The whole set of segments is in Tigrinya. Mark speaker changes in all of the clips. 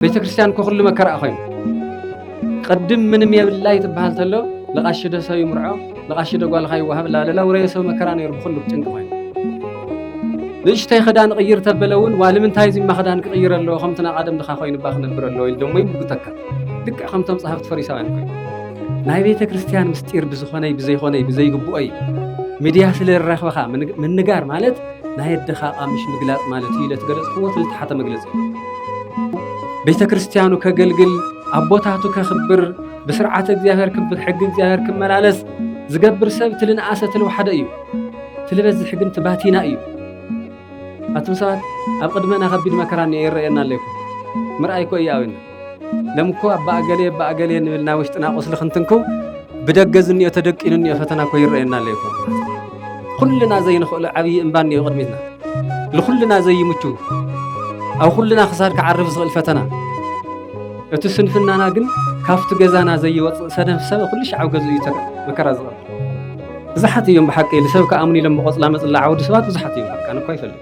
Speaker 1: ቤተክርስትያን እኮ ኩሉ መከራ ኮይኑ ቅድም ምንም የብላይ ትበሃል ተሎ ለቃሺ ዶ ሰብ ይምርዖ ለቃሺ ዶ ጓልካ ይወሃብ ላለላ ውረየ ሰብ መከራ ነይሩ ብኩሉ ጭንቂ ኮይኑ ንእሽተይ ክዳን ቅይር ተበለ እውን ዋ ንምንታይ እዚማ ክዳን ክቅይር ኣለዎ ከምቲ ናይ ቀደም ድካ ኮይኑባ ክነብር ኣለዎ ኢሉ ደሞ ይምጉተካ ልክዕ ከምቶም ጸሃፍቲ ፈሪሳውያን ኮይኑ ናይ ቤተ ክርስቲያን ምስጢር ብዝኾነይ ብዘይኾነይ ብዘይግብኦይ ሚድያ ስለ ዝረኽበኻ ምንጋር ማለት ናይ ኣደኻ ኣቃምሽ ምግላጽ ማለት እዩ ኢለ ትገለጽክዎ እቲ ልተሓተ መግለጺ ቤተ ክርስቲያኑ ከገልግል ኣቦታቱ ከኽብር ብስርዓተ እግዚኣብሔር ክብር ሕጊ እግዚኣብሔር ክመላለስ ዝገብር ሰብ እቲ ልንኣሰ እቲ ልውሓደ እዩ እቲ ልበዝሕ ግን እቲ ባቲና እዩ ኣቱም ሰባት ኣብ ቅድመና ከቢድ መከራ እኒኦ ይረኣየና ኣለይኩም ምርኣይ እኮ እዩ ኣብን ለም እኮ ኣባ እገሌ ኣባ እገሌ ንብል ናይ ውሽጥና ቁስሊ ክንትንክው ብደገ ዝኒኦ ተደቂኑ እኒኦ ፈተና እኮ ይረአየና ኣሎ ይኮ ኩልና ዘይንኽእሎ ዓብዪ እምባ እኒኦ ቅድሚትና ንኩልና ዘይምቹ ኣብ ኩልና ክሳድ ክዓርፍ ዝኽእል ፈተና እቲ ስንፍናና ግን ካብቲ ገዛና ዘይወፅእ ሰደፍ ሰብ ኩሉ ሻዕ ኣብ ገዝኡ እዩ ተረ መከራ ዝቐርብ ብዙሓት እዮም ብሓቂ ንሰብ ክኣምኑ ኢሎም ብቆፅላ መፅላ ዓውዲ ሰባት ብዙሓት እዮም በቃ ንኳ ይፈልጥ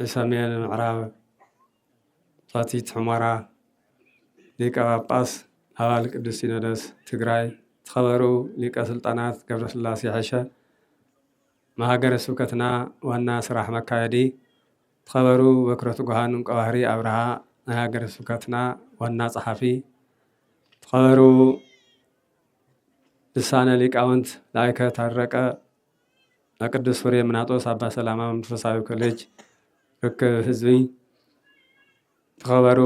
Speaker 1: ንሰሜን ምዕራብ ፋቲት ሑመራ ሊቀ ጳጳስ ኣባል ቅዱስ ሲኖዶስ ትግራይ ትኸበሩ ሊቀ ስልጣናት ገብረስላሴ ሐሸ መሃገረ ስብከትና ዋና ስራሕ መካየዲ ትኸበሩ በክረ ትጉሃን እንቀባህሪ ኣብርሃ ናይ ሃገረ ስብከትና ዋና ጸሓፊ ትኸበሩ ልሳነ ሊቃውንት ላይከ ታረቀ ቅዱስ ፍሬምናጦስ ኣባ ሰላማ መንፈሳዊ ኮሌጅ ርክብ ህዝቢ ዝኸበሩ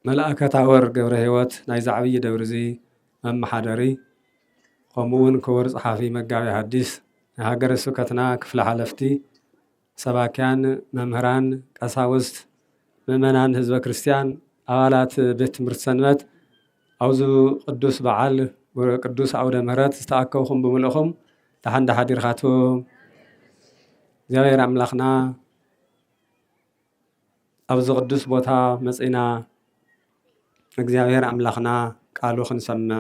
Speaker 1: መልኣከ ታወር ገብረ ህይወት ናይዚ ዓብዪ ደብሪ እዚ መመሓደሪ ከምኡ እውን ክቡር ፀሓፊ መጋቤ ሐዲስ ናይ ሃገረ ስብከትና ክፍሊ ሓለፍቲ ሰባክያን፣ መምህራን፣ ቀሳውስት፣ ምእመናን ህዝበ ክርስቲያን፣ ኣባላት ቤት ትምህርቲ ሰንበት ኣብዚ ቅዱስ በዓል ቅዱስ ኣውደ ምሕረት ዝተኣከብኹም ብምልእኹም ደሓን ዳሓዲርኻትኩም እግዚኣብሔር ኣምላኽና ኣብዚ ቅዱስ ቦታ መፂና እግዚኣብሔር ኣምላኽና ቃሉ ክንሰምዕ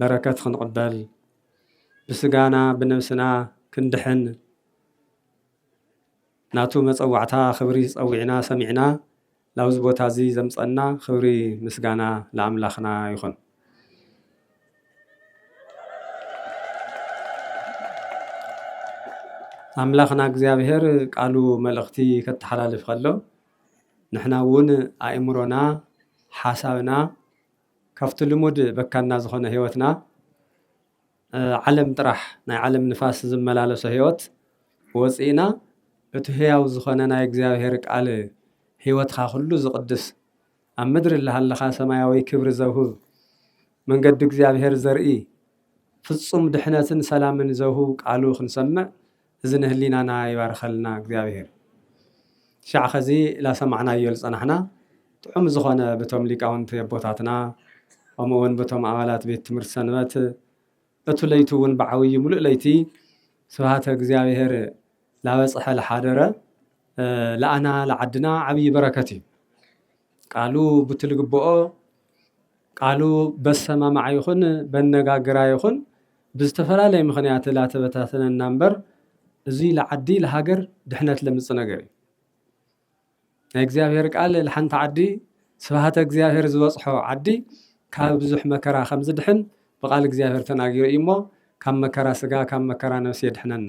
Speaker 1: በረከት ክንቕበል ብስጋና ብነብስና ክንድሕን ናቱ መጸዋዕታ ክብሪ ጸዊዕና ሰሚዕና ላብዚ ቦታ እዚ ዘምጸና ክብሪ ምስጋና ለኣምላኽና ይኹን። ኣምላኽና እግዚኣብሔር ቃሉ መልእኽቲ ከተሓላልፍ ከሎ ንሕና እውን ኣእምሮና ሓሳብና ካብቲ ልሙድ በካና ዝኾነ ህይወትና ዓለም ጥራሕ ናይ ዓለም ንፋስ ዝመላለሶ ህይወት ወጺእና እቱ ህያው ዝኾነ ናይ እግዚኣብሔር ቃል ህይወትኻ ኩሉ ዝቕድስ ኣብ ምድሪ እላሃለኻ ሰማያዊ ክብሪ ዘውህብ መንገዲ እግዚኣብሔር ዘርኢ ፍጹም ድሕነትን ሰላምን ዘውህብ ቃሉ ክንሰምዕ እዚ ንህሊናና ይባርኸልና እግዚኣብሔር። ሻዕ ኸዚ ላሰማዕናዮ ልጸናሕና ጥዑም ዝኾነ ብቶም ሊቃውንቲ ኣቦታትና ከምኡ እውን ብቶም ኣባላት ቤት ትምህርቲ ሰንበት እቱ ለይቱ እውን ብዓብዩ ሙሉእ ለይቲ ስብሃተ እግዚኣብሔር ላበጽሐ ልሓደረ ለኣና ለዓድና ዓብዪ በረከት እዩ። ቃሉ ብትልግብኦ ቃሉ በሰማማዕ ይኹን በነጋግራ ይኹን ብዝተፈላለየ ምኽንያት ላተበታተነና እምበር እዙይ ለዓዲ ለሃገር ድሕነት ለምፅ ነገር እዩ። ናይ እግዚኣብሔር ቃል ለሓንቲ ዓዲ ስብሃተ እግዚኣብሔር ዝበፅሖ ዓዲ ካብ ብዙሕ መከራ ከም ዝድሕን ብቃል እግዚኣብሔር ተናጊሩ እዩ እሞ ካብ መከራ ስጋ ካብ መከራ ነፍሲ የድሕነና።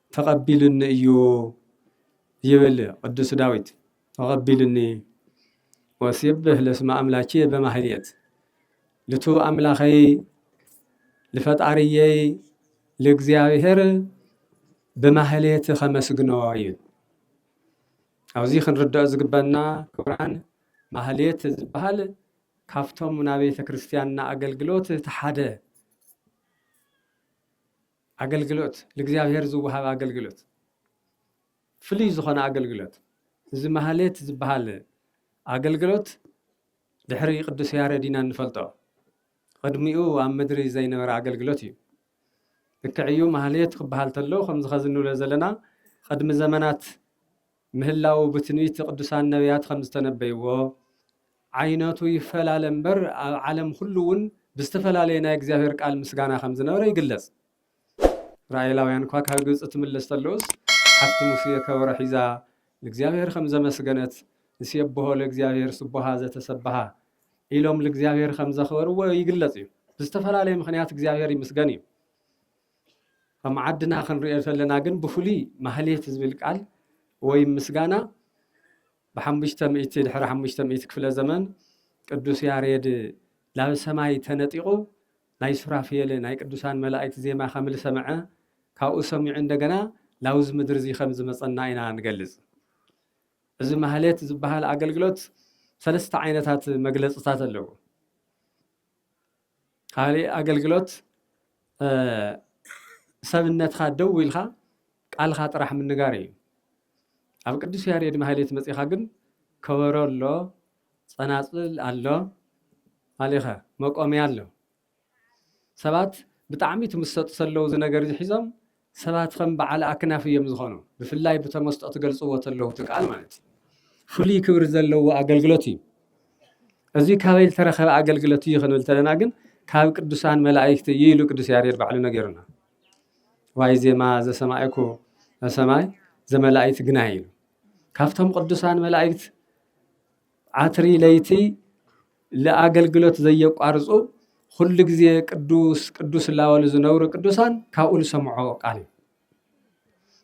Speaker 1: ተቐቢሉኒ እዩ ይብል ቅዱስ ዳዊት። ተቐቢሉኒ ወሲብህ ለስመ ኣምላኬ በማህሌት ልቱ ኣምላኸይ ልፈጣርየይ ልእግዚኣብሔር ብማህሌት ከመስግኖ እዩ። ኣብዚ ክንርድኦ ዝግበና ክቡራን ማህሌት ዝበሃል ካብቶም ናብ ቤተ ክርስቲያንና ኣገልግሎት እቲ ሓደ ኣገልግሎት ልእግዚኣብሔር ዝወሃብ ኣገልግሎት ፍልይ ዝኾነ ኣገልግሎት እዚ ማህሌት ዝበሃል ኣገልግሎት ድሕሪ ቅዱስ ያሬድ ኢና እንፈልጦ ቕድሚኡ ኣብ ምድሪ ዘይነበረ ኣገልግሎት እዩ ልክዕ እዩ ማህሌት ክበሃል ተሎ ከምዚ ኸዚ ንብሎ ዘለና ቕድሚ ዘመናት ምህላዉ ብትንቢት ቅዱሳን ነብያት ከም ዝተነበይዎ፣ ዓይነቱ ይፈላለ እምበር ኣብ ዓለም ኹሉ እውን ብዝተፈላለየ ናይ እግዚኣብሔር ቃል ምስጋና ከም ዝነበረ ይግለጽ። እስራኤላውያን እኳ ካብ ግብጺ ትምለስ ተሎስ ሓፍቲ ሙሴ ከበሮ ሒዛ ልእግዚኣብሔር ከም ዘመስገነት ንሴብሖ ለእግዚኣብሔር ስቡሃ ዘተሰብሃ ኢሎም ልእግዚኣብሔር ከም ዘኽበርዎ ይግለጽ እዩ። ብዝተፈላለየ ምኽንያት እግዚኣብሔር ይምስገን እዩ። ከም ዓድና ክንሪኦ ተለና ግን ብፍሉይ ማህሌት ዝብል ቃል ወይም ምስጋና ብሓሙሽተ ሚእቲ ድሕሪ ሓሙሽተ ሚእቲ ክፍለ ዘመን ቅዱስ ያሬድ ናብ ሰማይ ተነጢቑ ናይ ሱራፍኤል ናይ ቅዱሳን መላእክት ዜማ ከም ዝሰምዐ ካብኡ ሰሚዑ እንደገና ናብዚ ምድሪ እዚ ከም ዝመፀና ኢና ንገልፅ። እዚ ማህሌት ዝበሃል ኣገልግሎት ሰለስተ ዓይነታት መግለፅታት ኣለዎ። ካሊእ ኣገልግሎት ሰብነትካ ደው ኢልካ ቃልካ ጥራሕ ምንጋር እዩ። ኣብ ቅዱስ ያሬድ ማህሌት መፂኻ ግን ከበሮ ኣሎ፣ ፀናፅል ኣሎ፣ ኣሊኸ መቆምያ ኣሎ። ሰባት ብጣዕሚ ትምሰጡ ሰለው እዚ ነገር እዚ ሒዞም ሰባት ኸም በዓል ኣክናፍ እዮም ዝኾኑ ብፍላይ ብተመስጦ ትገልጽዎ ተለዉ እቲ ቃል ማለት እዩ ፍሉይ ክብሪ ዘለዎ ኣገልግሎት እዩ እዚ ካበይ ዝተረኸበ ኣገልግሎት እዩ ክንብል ተለና ግን ካብ ቅዱሳን መላእክቲ እዩ ኢሉ ቅዱስ ያሬድ ባዕሉ ነገሩና ዋይ ዜማ ዘሰማይኩ ሰማይ ዘመላእክት ግና ኢሉ ካብቶም ቅዱሳን መላእክት ዓትሪ ለይቲ ልኣገልግሎት ዘየቋርጹ ኹሉ ግዜ ቅዱስ ቅዱስ እላበሉ ዝነብሩ ቅዱሳን ካብኡ ዝሰምዖ ቃል እዩ።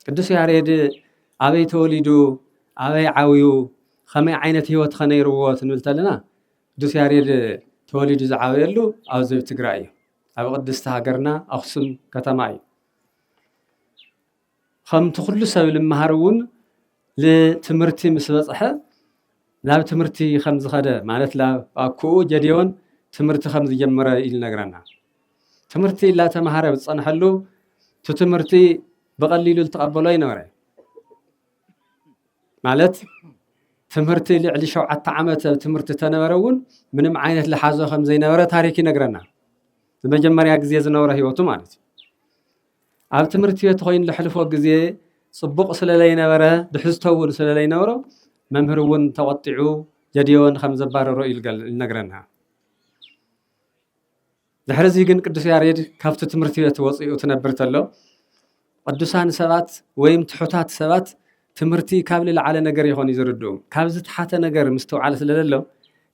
Speaker 1: ቅዱስ ያሬድ ኣበይ ተወሊዱ ኣበይ ዓብዩ ከመይ ዓይነት ህይወት ከነይርዎ ትንብል ተለና ቅዱስ ያሬድ ተወሊዱ ዝዓበየሉ ኣብዚ ትግራይ እዩ ኣብ ቅድስቲ ሃገርና ኣክሱም ከተማ እዩ ኸምቲ ዅሉ ሰብ ልመሃር እውን ልትምህርቲ ምስ በጽሐ ላብ ትምህርቲ ኸም ዝኸደ ማለት ላብ ኣኩኡ ጀዴዎን ትምህርቲ ኸም ዝጀመረ እዩ ልነግረና። ትምህርቲ ላተመሃረ ብዝጸንሐሉ እቲ ትምህርቲ ብቐሊሉ ልትቐበሎ ኣይነበረን። ማለት ትምህርቲ ልዕሊ ሸውዓተ ዓመት ኣብ ትምህርቲ ተነበረ እውን ምንም ዓይነት ልሓዞ ኸም ዘይነበረ ታሪክ ይነግረና። ንመጀመርያ ግዜ ዝነበሮ ህይወቱ ማለት እዩ። ኣብ ትምህርቲ ቤት ኾይኑ ለሕልፎ ግዜ ጽቡቕ ስለለይነበረ ድሕዝቶ እውን ስለለይነበሮ መምህር እውን ተቖጢዑ ጀድዮን ከም ዘባረሮ እዩ ልነግረና። ድሕሪ እዚ ግን ቅዱስ ያሬድ ካብቲ ትምህርቲ ቤት ወፂኡ ትነብር ተሎ ቅዱሳን ሰባት ወይም ትሑታት ሰባት ትምህርቲ ካብ ልለዓለ ነገር ይኾን እዩ ዝርድኡ ካብ ዝተሓተ ነገር ምስትውዓል ስለለሎ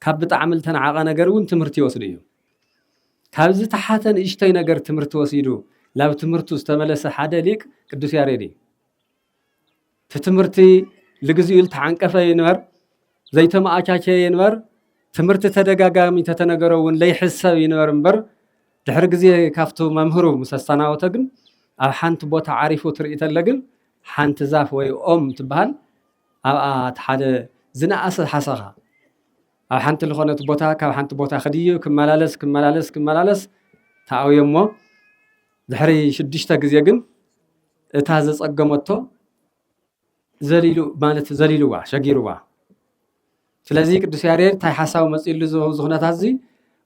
Speaker 1: ካብ ብጣዕሚ ልተናዓቐ ነገር እውን ትምህርቲ ይወስዱ እዮም። ካብ ዝተሓተ ንእሽቶይ ነገር ትምህርቲ ወሲዱ ናብ ትምህርቱ ዝተመለሰ ሓደ ሊቅ ቅዱስ ያሬድ እዩ። እቲ ትምህርቲ ልግዚኡ ዝተዓንቀፈ ይንበር ዘይተመኣቻቸየ ይንበር ትምህርቲ ተደጋጋሚ ተተነገሮ እውን ለይሕሰብ ይንበር እምበር ድሕሪ ግዜ ካብቱ መምህሩ ምስ ኣሰናወተ ግን ኣብ ሓንቲ ቦታ ዓሪፉ ትርኢ ተለ ግን ሓንቲ ዛፍ ወይ ኦም ትበሃል ኣብኣ እቲ ሓደ ዝነኣሰ ሓሰኻ ኣብ ሓንቲ ልኾነት ቦታ ካብ ሓንቲ ቦታ ክድይብ ክመላለስ ክመላለስ ክመላለስ ተኣውዮሞ ድሕሪ ሽዱሽተ ግዜ ግን እታ ዘጸገመቶ ዘሊሉ ማለት ዘሊሉዋ ሸጊሩዋ ስለዚ ቅዱስ ያሬድ እንታይ ሓሳብ መፅሉ እዚ ኩነታት እዚ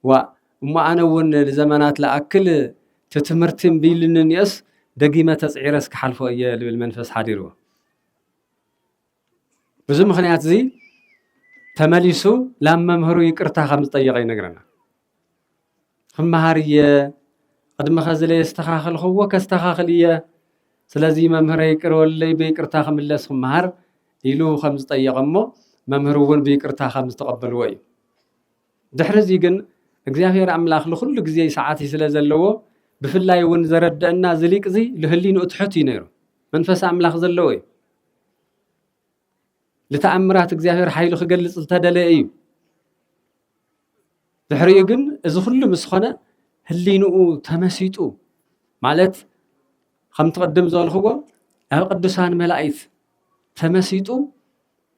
Speaker 1: ዋ እሞ ኣነ እውን ንዘመናት ለኣክል እቲ ትምህርቲ እምቢልኒ እኒኦስ ደጊመ ተፅዒረስ ክሓልፎ እየ ልብል መንፈስ ሓዲርዎ ብዙ ምክንያት እዚ ተመሊሱ ላብ መምህሩ ይቅርታ ከም ዝጠየቀ ይነግረና ክመሃር እየ ቅድሚ ከዚ ለየስተኻኸልክዎ ከስተኻኽል እየ ስለዚ መምህረ ይቅር ወለይ ብይቅርታ ክምለስ ክመሃር ኢሉ ከም ዝጠየቀ እሞ መምህር እውን ብይቅርታ ከም ዝተቀበልዎ እዩ ድሕሪ እዚ ግን እግዚኣብሔር ኣምላኽ ንኩሉ ግዜ ሰዓት ስለ ዘለዎ ብፍላይ እውን ዘረደአና ዝሊቅ እዚ ልህሊንኡ ትሑት እዩ ነይሩ መንፈስ ኣምላኽ ዘለዎ እዩ ልተኣምራት እግዚኣብሔር ሓይሉ ክገልጽ ዝተደለ እዩ ድሕሪኡ ግን እዚ ኩሉ ምስ ኾነ ህሊንኡ ተመሲጡ ማለት ከምቲ ቅድም ዝበልኽዎ ኣብ ቅዱሳን መላእክት ተመሲጡ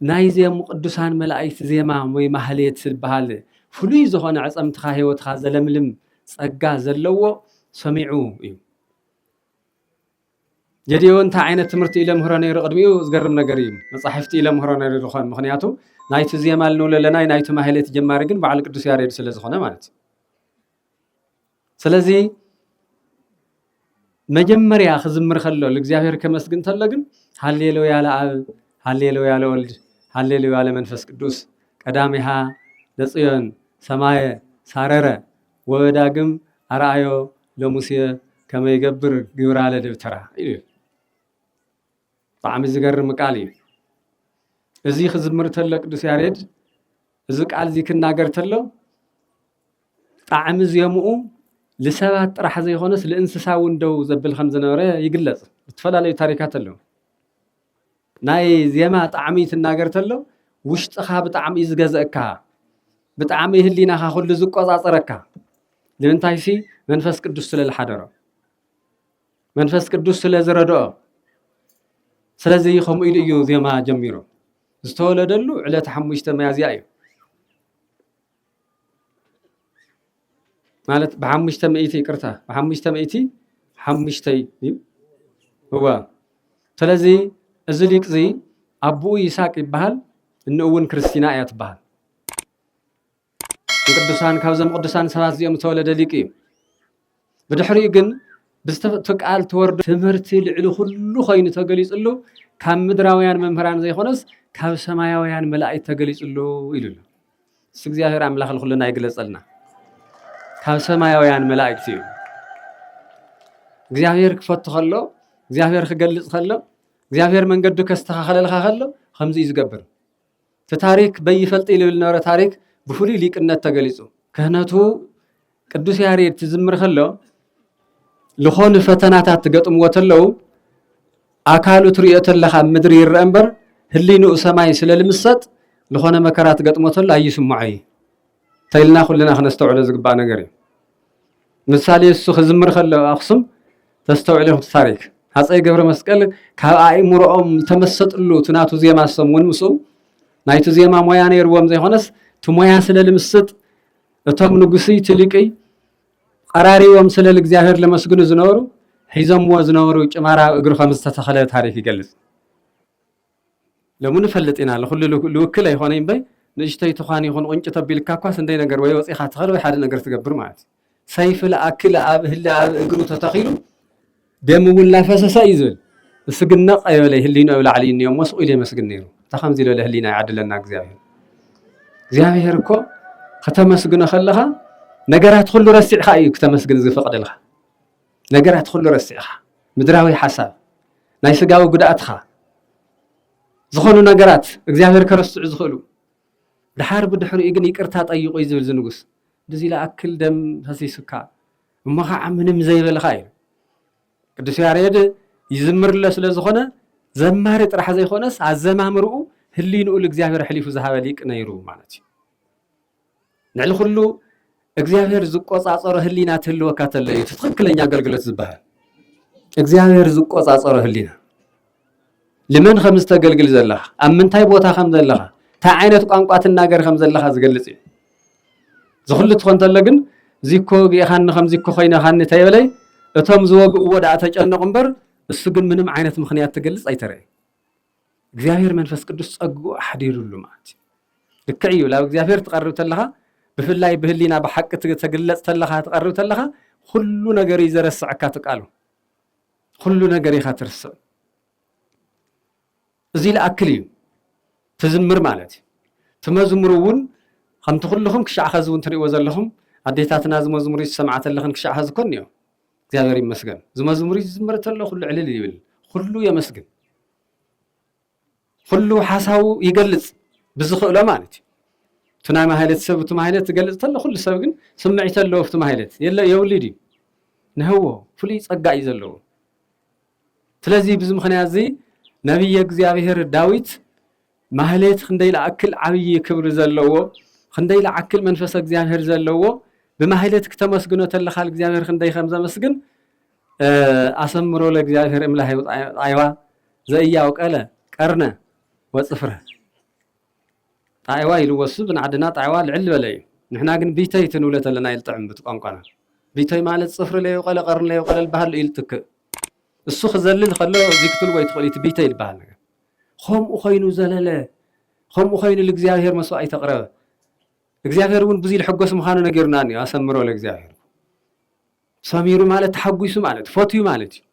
Speaker 1: ናይ ዜሙ ቅዱሳን መላእክት ዜማ ወይ ማህሌት ዝበሃል ፍሉይ ዝኾነ ዕፀምትኻ ህይወትኻ ዘለምልም ጸጋ ዘለዎ ሰሚዑ እዩ ጌዲዮ እንታይ ዓይነት ትምህርቲ እዩ ለምህሮ ነይሩ ቅድሚኡ ዝገርም ነገር እዩ መፃሕፍቲ እዩ ለምህሮ ነይሩ ዝኾን ምክንያቱ ናይቲ ዜማ ልንብሎ ኣለና ናይቲ ማህሌት ጀማሪ ግን በዓል ቅዱስ ያሬድ ስለ ዝኾነ ማለት እዩ ስለዚ መጀመርያ ክዝምር ከሎ ንእግዚኣብሔር ከመስግን ተሎ ግን ሃሌሉያ ለኣብ ሃሌሉያ ለወልድ ሃሌሉያ ለመንፈስ ቅዱስ ቀዳሚሃ ለፅዮን ሰማየ ሳረረ ወበዳግም ኣርኣዮ ለሙሴ ከመ ይገብር ግብራ ለደብተራ ኢሉ እዩ። ብጣዕሚ ዝገርም ቃል እዩ። እዚ ክዝምር ተሎ ቅዱስ ያሬድ እዚ ቃል እዚ ክናገር ተሎ ጣዕሚ ዜምኡ ልሰባት ጥራሕ ዘይኮነስ ልእንስሳ እውን ደው ዘብል ከም ዝነበረ ይግለጽ። ዝተፈላለዩ ታሪካት ኣለዉ። ናይ ዜማ ጣዕሚ ትናገር ተሎ ውሽጥኻ ብጣዕሚ እዩ ዝገዘእካ ብጣዕሚ ህሊናኻ ኩሉ ዝቆጻጸረካ ንምንታይሲ መንፈስ ቅዱስ ስለ ዝሓደሮ መንፈስ ቅዱስ ስለ ዝረድኦ ስለዚ ከምኡ ኢሉ እዩ ዜማ ጀሚሩ ዝተወለደሉ ዕለት ሓሙሽተ መያዝያ እዩ ማለት ብሓሙሽተ ሚእቲ ይቅርታ ብሓሙሽተ ሚእቲ ሓሙሽተይ እዩ እወ ስለዚ እዚ ሊቅ እዚ ኣቦኡ ይስሐቅ ይበሃል እንኡ እውን ክርስቲና እያ ትበሃል ንቅዱሳን ካብዞም ቅዱሳን ሰባት እዚኦም ዝተወለደ ሊቅ እዩ ብድሕሪኡ ግን ብዝተፈጥቶ ቃል ተወርዶ ትምህርቲ ልዕሊ ኩሉ ኮይኑ ተገሊፅሉ ካብ ምድራውያን መምህራን ዘይኮነስ ካብ ሰማያውያን መላእክት ተገሊፅሉ ኢሉ ኣሎ እሱ እግዚኣብሔር ኣምላኽ ንኩልና ይግለፀልና ካብ ሰማያውያን መላእክት እዩ እግዚኣብሔር ክፈቱ ከሎ እግዚኣብሔር ክገልፅ ከሎ እግዚኣብሔር መንገዱ ከስተኻኸለልካ ከሎ ከምዚ እዩ ዝገብር እቲ ታሪክ በይፈልጢ ልብል ነበረ ታሪክ ብፍሉይ ሊቅነት ተገሊፁ። ክህነቱ ቅዱስ ያሬድ ትዝምር ከሎ ዝኾኑ ፈተናታት ትገጥምዎ ተለው ኣካሉ ትሪኦ ተለኻ ኣብ ምድሪ ይረአ እምበር ህሊንኡ ሰማይ ስለ ልምሰጥ ዝኾነ መከራ ትገጥሞ ተሎ ኣይስምዖ እዩ። ተይልና ኩልና ክነስተውዕሎ ዝግባእ ነገር እዩ ምሳሌ እሱ ክዝምር ከሎ ኣክሱም ተስተውዕል ኢኹም ታሪክ ሃፀይ ገብረ መስቀል ካብ ኣእምሮኦም ዝተመሰጥሉ እቲ ናቱ ዜማ ሰም እውን ምስኡ ናይቲ ዜማ ሞያ ነይርዎም ዘይኮነስ እቲ ሞያ ስለ ልምስጥ እቶም ንጉስይ ትሊቅይ ቀራሪቦም ስለ እግዚኣብሔር ለመስግኑ ዝነበሩ ሒዞምዎ ዝነበሩ ጭማራ እግሪ ከም ዝተተኸለ ታሪክ ይገልፅ ሎሚ ንፈልጥ ኢና ልኹሉ ልውክል ኣይኾነይ እምበይ ንእሽተይ ትዃን ይኹን ቁንጪ ተቢልካ እኳ ስንደይ ነገር ወይ ወጺኻ ትኸድ ወይ ሓደ ነገር ትገብር ማለት እዩ። ሰይፊ ልኣክል ኣብ ህሊ ኣብ እግሩ ተተኺሉ ደም እውን ላፈሰሰ እዩ ዝብል እሱ ግን ነቕ ኣይበለይ ህሊኑ ኣብ ላዕሊ እዩ እሞ ስቑ ኢሉ የመስግን ነይሩ እታ ከምዚ ዝበለ ህሊና ይዓድለና እግዚኣብሔር እግዚኣብሔር እኮ ከተመስግኖ ከለኻ ነገራት ኩሉ ረሲዕካ እዩ ክተመስግን ዝፈቅደልካ ነገራት ኹሉ ረሲዕኻ ምድራዊ ሓሳብ ናይ ስጋዊ ጉድኣትኻ ዝኾኑ ነገራት እግዚኣብሔር ከረስዑ ዝኽእሉ ድሓር ብድሕሪኡ ግን ይቅርታ ጠይቁ እዩ ዝብል ዝንጉስ ብዚ ለኣክል ደም ፈሲሱካ እሞ ከዓ ምንም ዘይበልኻ እዩ ቅዱስ ያሬድ ይዝምርለ ስለ ዝኾነ ዘማሪ ጥራሕ ዘይኮነስ ኣዘማምርኡ ህሊንኡ ልእግዚኣብሔር ሕሊፉ ዝሃበ ሊቅ ነይሩ ማለት እዩ ልዕሊ ኩሉ እግዚኣብሔር ዝቆጻጸሮ ህሊና ትህልወካ ተሎ እዩ ትክክለኛ ኣገልግሎት ዝበሃል እግዚኣብሔር ዝቆጻጸሮ ህሊና ልመን ከም ዝተገልግል ዘለኻ ኣብ ምንታይ ቦታ ከም ዘለኻ እንታይ ዓይነት ቋንቋ ትናገር ከም ዘለኻ ዝገልጽ እዩ ዝኩሉ ትኾን ተሎ ግን ዚኮ ግኢኻኒ ከም ዚኮ ኮይነኻኒ ተይበለይ እቶም ዝወግእዎ ደኣ ተጨነቑ እምበር እሱ ግን ምንም ዓይነት ምክንያት ትገልጽ ኣይተረእዩ እግዚኣብሔር መንፈስ ቅዱስ ጸግኡ ኣሕዲሩሉ ማለት እዩ ልክዕ እዩ ናብ እግዚኣብሔር ትቐርብ ተለኻ ብፍላይ ብህሊና ብሓቂ ተግለጽ ተለኻ ትቐርብ ተለኻ ኩሉ ነገር እዩ ዘረስዐካ ትቃሉ ኩሉ ነገር ኢኻ ትርስዕ እዚ ልኣክል እዩ ትዝምር ማለት እዩ ትመዝሙር እውን ከምቲ ኩልኹም ክሻዕ ኸዚ እውን ትሪእዎ ዘለኹም ኣዴታትና ዝመዝሙር ዝሰምዓ ተለኽን ክሻዕ ኸዚ ኮን እዮም እግዚኣብሔር ይመስገን ዝመዝሙሪ ዝዝመረ ተሎ ኩሉ ዕልል ይብል ኩሉ የመስግን ኩሉ ሓሳቡ ይገልጽ ብዝኽእሎ ማለት እዩ እቲ ናይ ማህለት ሰብ እቲ ማህለት ዝገልጽ ተሎ ኩሉ ሰብ ግን ስምዒት ኣለዎ ኣብቲ ማህለት የለ የብሉ ድዩ ንህዎ ፍሉይ ጸጋ እዩ ዘለዎ ስለዚ ብዚ ምኽንያት እዚ ነብየ እግዚኣብሔር ዳዊት ማህሌት ክንደይ ለኣክል ዓብዪ ክብሪ ዘለዎ ክንደይ ለዓክል መንፈሰ እግዚኣብሔር ዘለዎ ብማህሌት ክተመስግኖ ተለኻል እግዚኣብሔር ክንደይ ከም ዘመስግን ኣሰምሮ ለእግዚኣብሔር እምላህ ጣይዋ ዘእያው ቀለ ቀርነ ወፅፍረ ጣዒዋ ኢሉ ወሱ ብንዓድና ጣዒዋ ልዕል ልበለ እዩ ንሕና ግን ቢተይቲ ንብለ ተለና ይልጥዕም ብቲ ቋንቋና ቢቶይ ማለት ጽፍሪ ለይውቀለ ቀርኒ ለይውቀለ ልበሃሉ እዩ ልትክእ እሱ ክዘልል ከሎ እዚ ክትልዎ ይትክእሉ እዩ እቲ ቢተይ ልበሃል ነገር ኾምኡ ኮይኑ ዘለለ ኾምኡ ኮይኑ ልእግዚኣብሔር መስዋእይት ኣቕረበ እግዚኣብሔር እውን ብዙይ ልሕጎስ ምዃኑ ነጊሩና እኒኦ ኣሰምሮ ለእግዚኣብሔር ሰሚሩ ማለት ተሓጒሱ ማለት ፈትዩ ማለት እዩ።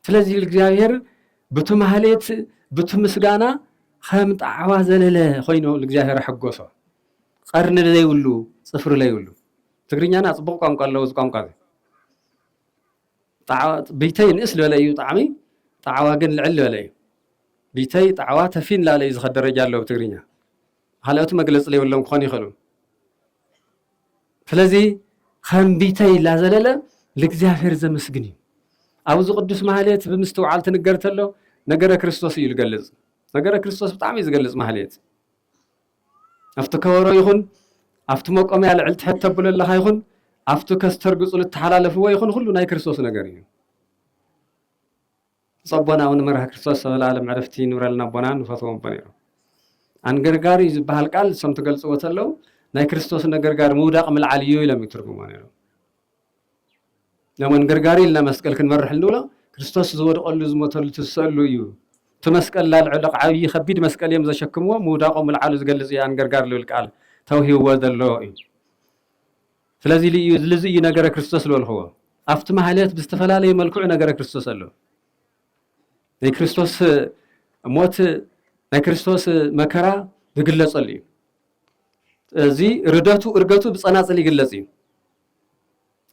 Speaker 1: ስለዚ እግዚኣብሔር ብቲ ማህሌት ብቲ ምስጋና ከም ጣዕዋ ዘለለ ኮይኑ እግዚኣብሔር ኣሐጎሶ። ቀርኒ ዘይብሉ ፅፍሪ ዘይብሉ ትግርኛና ፅቡቕ ቋንቋ ኣለዎ እዚ ቋንቋ እዚ ብይተይ ንእስ ዝበለ እዩ ጣዕሚ ጣዕዋ ግን ልዕል ዝበለ እዩ ብይተይ ጣዕዋ ተፊን ላለ እዩ ዝኸ ደረጃ ኣለዎ ብትግርኛ ካልኦት መግለጺ ለይብሎም ክኾኑ ይኽእሉ። ስለዚ ከም ቢተይ ላዘለለ ልእግዚኣብሔር ዘመስግን እዩ። ኣብዚ ቅዱስ ማህሌት ብምስትውዓል ትንገር ተሎ ነገረ ክርስቶስ እዩ ዝገልጽ። ነገረ ክርስቶስ ብጣዕሚ እዩ ዝገልጽ ማህሌት። ኣብቲ ከበሮ ይኹን ኣብቲ መቆምያ ልዕል ትሕት ተብሎ ኣለኻ ይኹን ኣብቲ ከስተርግጹ ልተሓላለፍዎ ይኹን ኩሉ ናይ ክርስቶስ ነገር እዩ። ብፁዕ ኣቦና ኣቡነ መርሃ ክርስቶስ ዘበለኣለም ዕረፍቲ ይንብረልና ኣቦና ንፈትዎም ኣቦ ነይሮም። ኣንገርጋሪ ዝበሃል ቃል ንሶም ትገልጽዎ ተለው ናይ ክርስቶስ ነገርጋሪ ምውዳቕ ምልዓል እዩ ኢሎም ይትርጉሞ ነይሮም። ነሞን ገርጋሪ ኢልና መስቀል ክንመርሕ እንብሎ ክርስቶስ ዝወድቐሉ ዝሞተሉ ትሰሉ እዩ እቲ መስቀል ላልዕሎ ዓብዪ ከቢድ መስቀል እዮም ዘሸክምዎ ምውዳቖ ምልዓሉ ዝገልፅ እዩ ኣንገርጋር ልብል ቃል ተውሂብዎ ዘሎ እዩ ስለዚ ልዩ ልዚ እዩ ነገረ ክርስቶስ ዝበልክዎ። ኣብቲ ማህሌት ብዝተፈላለየ መልክዑ ነገረ ክርስቶስ ኣሎ። ናይ ክርስቶስ ሞት ናይ ክርስቶስ መከራ ዝግለጸሉ እዩ። እዚ ርደቱ እርገቱ ብጸናጽል ይግለጽ እዩ።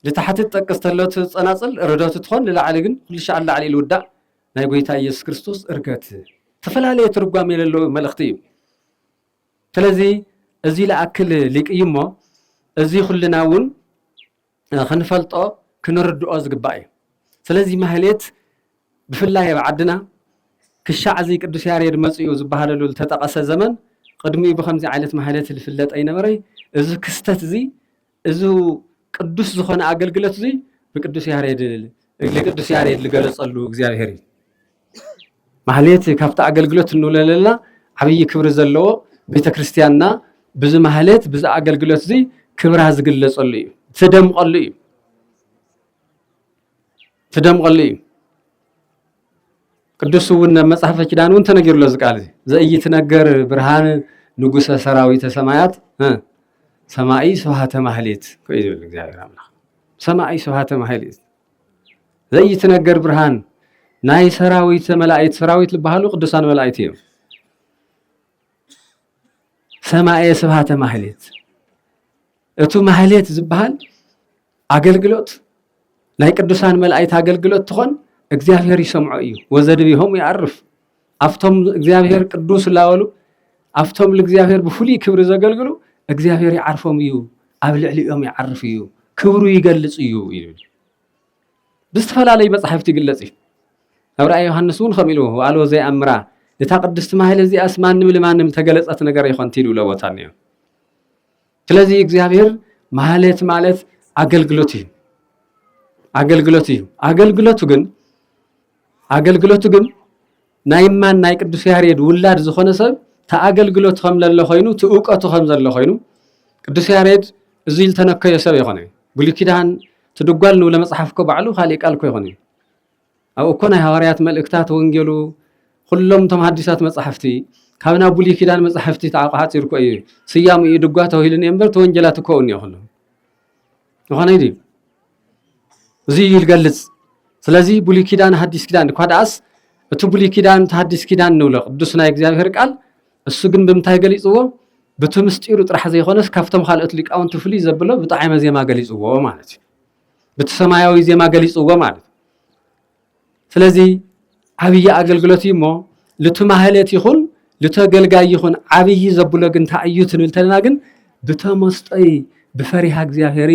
Speaker 1: ልታሕቲ ትጠቅስ ተለቱ ጸናጽል ርደቱ ትኾን ንላዕሊ ግን ኩሉ ሻዕ ንላዕሊ ኢሉ ውዳእ ናይ ጎይታ ኢየሱስ ክርስቶስ እርገት ዝተፈላለየ ትርጓሜ ለለዎ መልእኽቲ እዩ። ስለዚ እዚ ልኣክል ሊቅ እዩሞ እዚ ኩልና እውን ክንፈልጦ ክንርድኦ ዝግባእ እዩ። ስለዚ ማህሌት ብፍላይ ኣብ ዓድና ክሻዕ እዚ ቅዱስ ያሬድ መጺኡ ዝበሃለሉ ልተጠቐሰ ዘመን ቅድሚኡ ብኸምዚ ዓይነት ማህሌት ልፍለጥ ኣይነበረይ እዚ ክስተት እዚ እዝ ቅዱስ ዝኾነ ኣገልግለት እዙይ ንቅዱስ ያሬድ ንቅዱስ ያሬድ ዝገለጸሉ እግዚኣብሔር እዩ። ማህሌት ካብቲ ኣገልግሎት እንውለለላ ዓብዪ ክብሪ ዘለዎ ቤተ ክርስቲያንና ብዚ ማህሌት ብዚ ኣገልግሎት እዚ ክብራ ዝግለጸሉ እዩ ትደምቐሉ እዩ። ትደምቐሉ እዩ። ቅዱስ እውን ኣብ መጽሐፈ ኪዳን እውን ተነጊሩሎ እዚ ቃል ዘኢይትነገር ብርሃን ንጉሰ ሰራዊተ ሰማያት ሰማኢ ስብሃተ ማህሌት ኮይ ዝብል እግዚኣብሔር ኣምላኽ ሰማኢ ስብሃተ ማህሌት ዘይትነገር ብርሃን ናይ ሰራዊት መላእክት ሰራዊት ዝበሃሉ ቅዱሳን መላእክት እዮም። ሰማኤ ስብሃተ ማህሌት እቱ ማህሌት ዝበሃል ኣገልግሎት ናይ ቅዱሳን መላእክት ኣገልግሎት ትኾን እግዚኣብሔር ይሰምዖ እዩ ወዘድቢሆም ይኣርፍ ኣብቶም እግዚኣብሔር ቅዱስ ላበሉ ኣብቶም ልእግዚኣብሔር ብፍሉይ ክብሪ ዘገልግሉ እግዚኣብሔር ይዓርፎም እዩ ኣብ ልዕሊኦም ይዓርፍ እዩ ክብሩ ይገልፅ እዩ ይብል ብዝተፈላለዩ መፅሓፍቲ ይግለፅ እዩ ኣብ ራእይ ዮሃንስ እውን ከም ኢሉ ኣልዎ ዘይኣምራ እታ ቅድስቲ ማህል እዚኣስ ማንም ልማንም ተገለፀት ነገር ይኮንቲ ኢሉ ለቦታ እኒኦ ስለዚህ እግዚአብሔር ማለት ማለት አገልግሎት እዩ አገልግሎት እዩ አገልግሎቱ ግን አገልግሎቱ ግን ናይ ማን ናይ ቅዱስ ያሬድ ውላድ ዝኾነ ሰብ ተኣገልግሎት ከም ለለ ኮይኑ ትእውቀቱ ከም ዘሎ ኮይኑ ቅዱስ ያሬድ እዚ ዝተነከዮ ሰብ ይኾነ ብሉይ ኪዳን ትድጓል ንብለ መፅሓፍ እኮ ባዕሉ ካሊእ ቃል እኮ ይኾነ ኣብ እኮ ናይ ሃዋርያት መልእክታት ወንጌሉ ኹሎም እቶም ሃዲሳት መጻሕፍቲ ካብ ናብ ብሉይ ኪዳን መጻሕፍቲ ተዓቋሓጺሩ እኮ እዩ ስያሙ እዩ ድጓ ተባሂሉ እኒኦ እምበር እቲ ወንጌላት እኮ እኒኦ ኹሉ ዝኾነ ድዩ እዚ እዩ ዝገልጽ ስለዚ ብሉይ ኪዳን ሃዲስ ኪዳን እኳ ደኣስ እቲ ብሉይ ኪዳን እቲ ሃዲስ ኪዳን ንብሎ ቅዱስ ናይ እግዚኣብሔር ቃል እሱ ግን ብምንታይ ገሊጽዎ ብቲ ምስጢሩ ጥራሕ ዘይኮነስ ካብቶም ካልኦት ሊቃውንቲ ፍልይ ዘብሎ ብጣዕመ ዜማ ገሊጽዎ ማለት እዩ ብቲ ሰማያዊ ዜማ ገሊፅዎ ማለት ስለዚ ዓብዪ ኣገልግሎት እዩ እሞ ልቲ ማህሌት ይኹን ልተገልጋይ ይኹን ዓብዪ ዘብሎ ግን እንታይ እዩ ትንብል ተለና ግን ብተመስጦይ ብፈሪሃ እግዚኣብሔር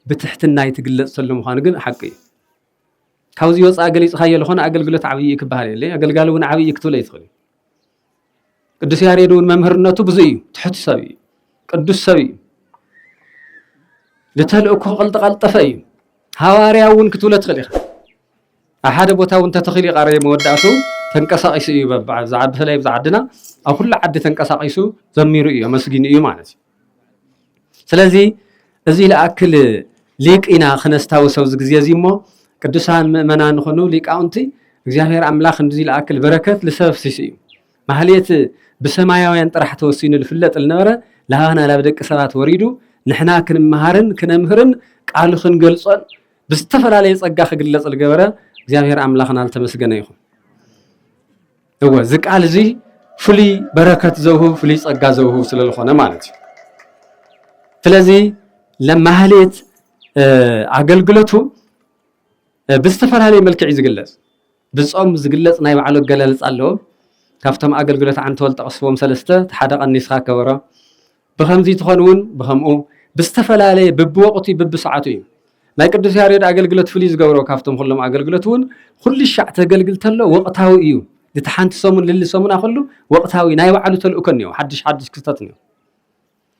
Speaker 1: ብትሕትናይ ትግለፅ ተሎ ምዃኑ ግን ሓቂ እዩ ካብዚ ወፃኢ ገሊፅካዮ ዝኾነ ኣገልግሎት ዓብዪ እዩ ክበሃል የለ ኣገልጋሊ እውን ዓብዪ ክትብለ ይትኽእል እዩ ቅዱስ ያሬድ እውን መምህርነቱ ብዙ እዩ ትሑት ሰብ እዩ ቅዱስ ሰብ እዩ ንተልእኮ ቀልጠቀልጠፈ እዩ ሃዋርያ እውን ክትብሎ ትኽእል ኢኻ ኣብ ሓደ ቦታ እውን ተተኺሉ ይቃረ መወዳእቱ ተንቀሳቂሱ እዩ ብዛዕባ ብፍላይ ብዛ ዓድና ኣብ ኩሉ ዓዲ ተንቀሳቂሱ ዘሚሩ እዩ ኣመስጊኑ እዩ ማለት እዩ ስለዚ እዚ ልኣክል ሊቅ ኢና ክነስታውስ ኣብዚ ግዜ እዚ እሞ ቅዱሳን ምእመናን ንኹኑ ሊቃውንቲ እግዚኣብሔር ኣምላኽ እንዚ ልኣክል በረከት ልሰብ ኣፍሲሱ እዩ ማህሌት ብሰማያውያን ጥራሕ ተወሲኑ ልፍለጥ ልነበረ ላባና ላብ ደቂ ሰባት ወሪዱ ንሕና ክንመሃርን ክነምህርን ቃሉ ክንገልጾን ብዝተፈላለየ ጸጋ ክግለጽ ልገበረ እግዚኣብሔር ኣምላኽና ልተመስገነ ይኹን። እወ እዚ ቃል እዚ ፍሉይ በረከት ዘውህብ ፍሉይ ጸጋ ዘውህብ ስለ ዝኾነ ማለት እዩ ስለዚ ለማህሌት ኣገልግለቱ ብዝተፈላለየ መልክዕ እዩ ዝግለጽ ብጾም ዝግለጽ ናይ ባዕሉ ኣገላልጻ ኣለዎ ካብቶም ኣገልግሎት ዓንተወል ጠቕስዎም ሰለስተ ሓደ ቀኒስኻ ከበሮ ብኸምዚ ትኾን እውን ብኸምኡ ብዝተፈላለየ ብብወቕቱ ብብሰዓቱ እዩ። ናይ ቅዱስ ያሬድ ኣገልግሎት ፍልይ ዝገብሮ ካብቶም ኩሎም ኣገልግሎት እውን ኹልሻዕ ተገልግል ተሎ ወቕታዊ እዩ። ድቲ ሓንቲ ሰሙን ልሊ ሰሙና ከሉ ወቕታዊ ናይ ባዕሉ ተልእኮ እኒኦ ሓድሽ ሓድሽ ክስተት እኒኦ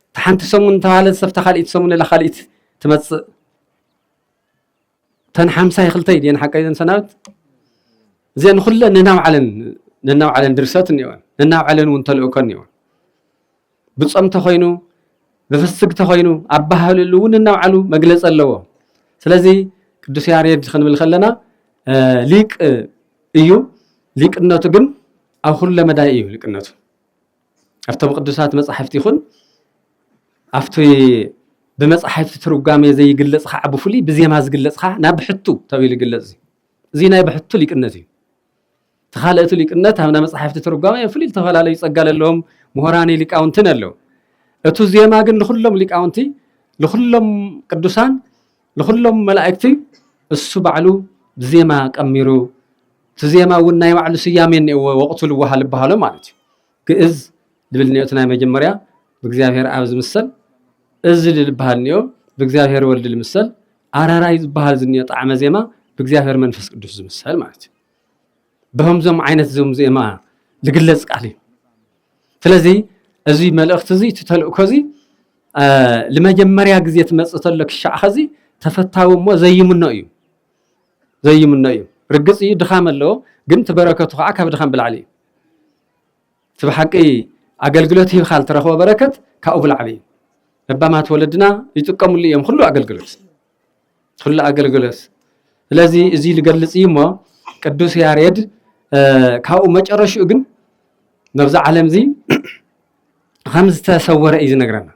Speaker 1: እቲ ሓንቲ ሰሙን ተባህለ ሰፍታ ካልኢት ሰሙን ላ ካልኢት ትመፅእ እተን ሓምሳይ ክልተይ ድየን ሓቀይ ዘን ሰናብት እዚኣን ኩለን ነናብዓለን ነናብዓለን ድርሰት እኒኦን ነናብዓለን እውን ተልእኮ እኒኦን ብፆም ተኮይኑ ብፍስግ ተኮይኑ ኣባህልሉ እውን ነናብዓሉ መግለፂ ኣለዎ ስለዚ ቅዱስ ያሬድ ክንብል ከለና ሊቅ እዩ ሊቅነቱ ግን ኣብ ኩለ መዳይ እዩ ሊቅነቱ ኣብቶም ቅዱሳት መጻሕፍቲ ይኹን ኣብቲ ብመጻሕፍቲ ትርጓሜ ዘይግለጽ ከዓ ብፍሉይ ብዜማ ዝግለጽ ከዓ ናብ ብሕቱ ተባሂሉ ይግለጽ እዩ እዚ ናይ ብሕቱ ሊቅነት እዩ እቲ ካልእቲ ሊቅነት ኣብ ናይ መጻሕፍቲ ትርጓሜ ፍሉይ ዝተፈላለዩ ጸጋ ዘለዎም ምሁራን ሊቃውንትን ኣለዉ እቱ ዜማ ግን ንኩሎም ሊቃውንቲ ንኩሎም ቅዱሳን ንኹሎም መላእክቲ እሱ ባዕሉ ብዜማ ቀሚሩ እቲ ዜማ እውን ናይ ባዕሉ ስያሜ እኒኦዎ ወቕቱ ልወሃ ልበሃሎ ማለት እዩ ግእዝ ልብል እኒኦ እቲ ናይ መጀመርያ ብእግዚኣብሔር ኣብ ዝምሰል እዝል ልበሃል እኒኦ ብእግዚኣብሔር ወልድ ልምሰል ኣራራይ ዝበሃል ዝኒኦ ጣዕመ ዜማ ብእግዚኣብሔር መንፈስ ቅዱስ ዝምሰል ማለት እዩ ብከምዞም ዓይነት ዞም እዚኦም ዝግለፅ ቃል እዩ ስለዚ እዚ መልእክቲ እዚ እቲ ተልእኮ እዚ ንመጀመርያ ግዜ ትመፅእ ተሎ ክሻዕ ኸዚ ተፈታዊ እሞ ዘይምኖ እዩ ዘይምኖ እዩ ርግፅ እዩ ድኻም ኣለዎ ግን እቲ በረከቱ ከዓ ካብ ድኻም ብላዕሊ እዩ እቲ ብሓቂ ኣገልግሎት ሂብካ ዝተረኽቦ በረከት ካብኡ ብላዕሊ እዩ ለባማት ወለድና ይጥቀምሉ እዮም ኩሉ ኣገልግሎት ኩሉ ኣገልግሎት ስለዚ እዚ ዝገልፅ እዩ እሞ ቅዱስ ያሬድ ካብኡ መጨረሽኡ ግን ነብዚ ዓለም እዚ ከም ዝተሰወረ እዩ ዝነግረና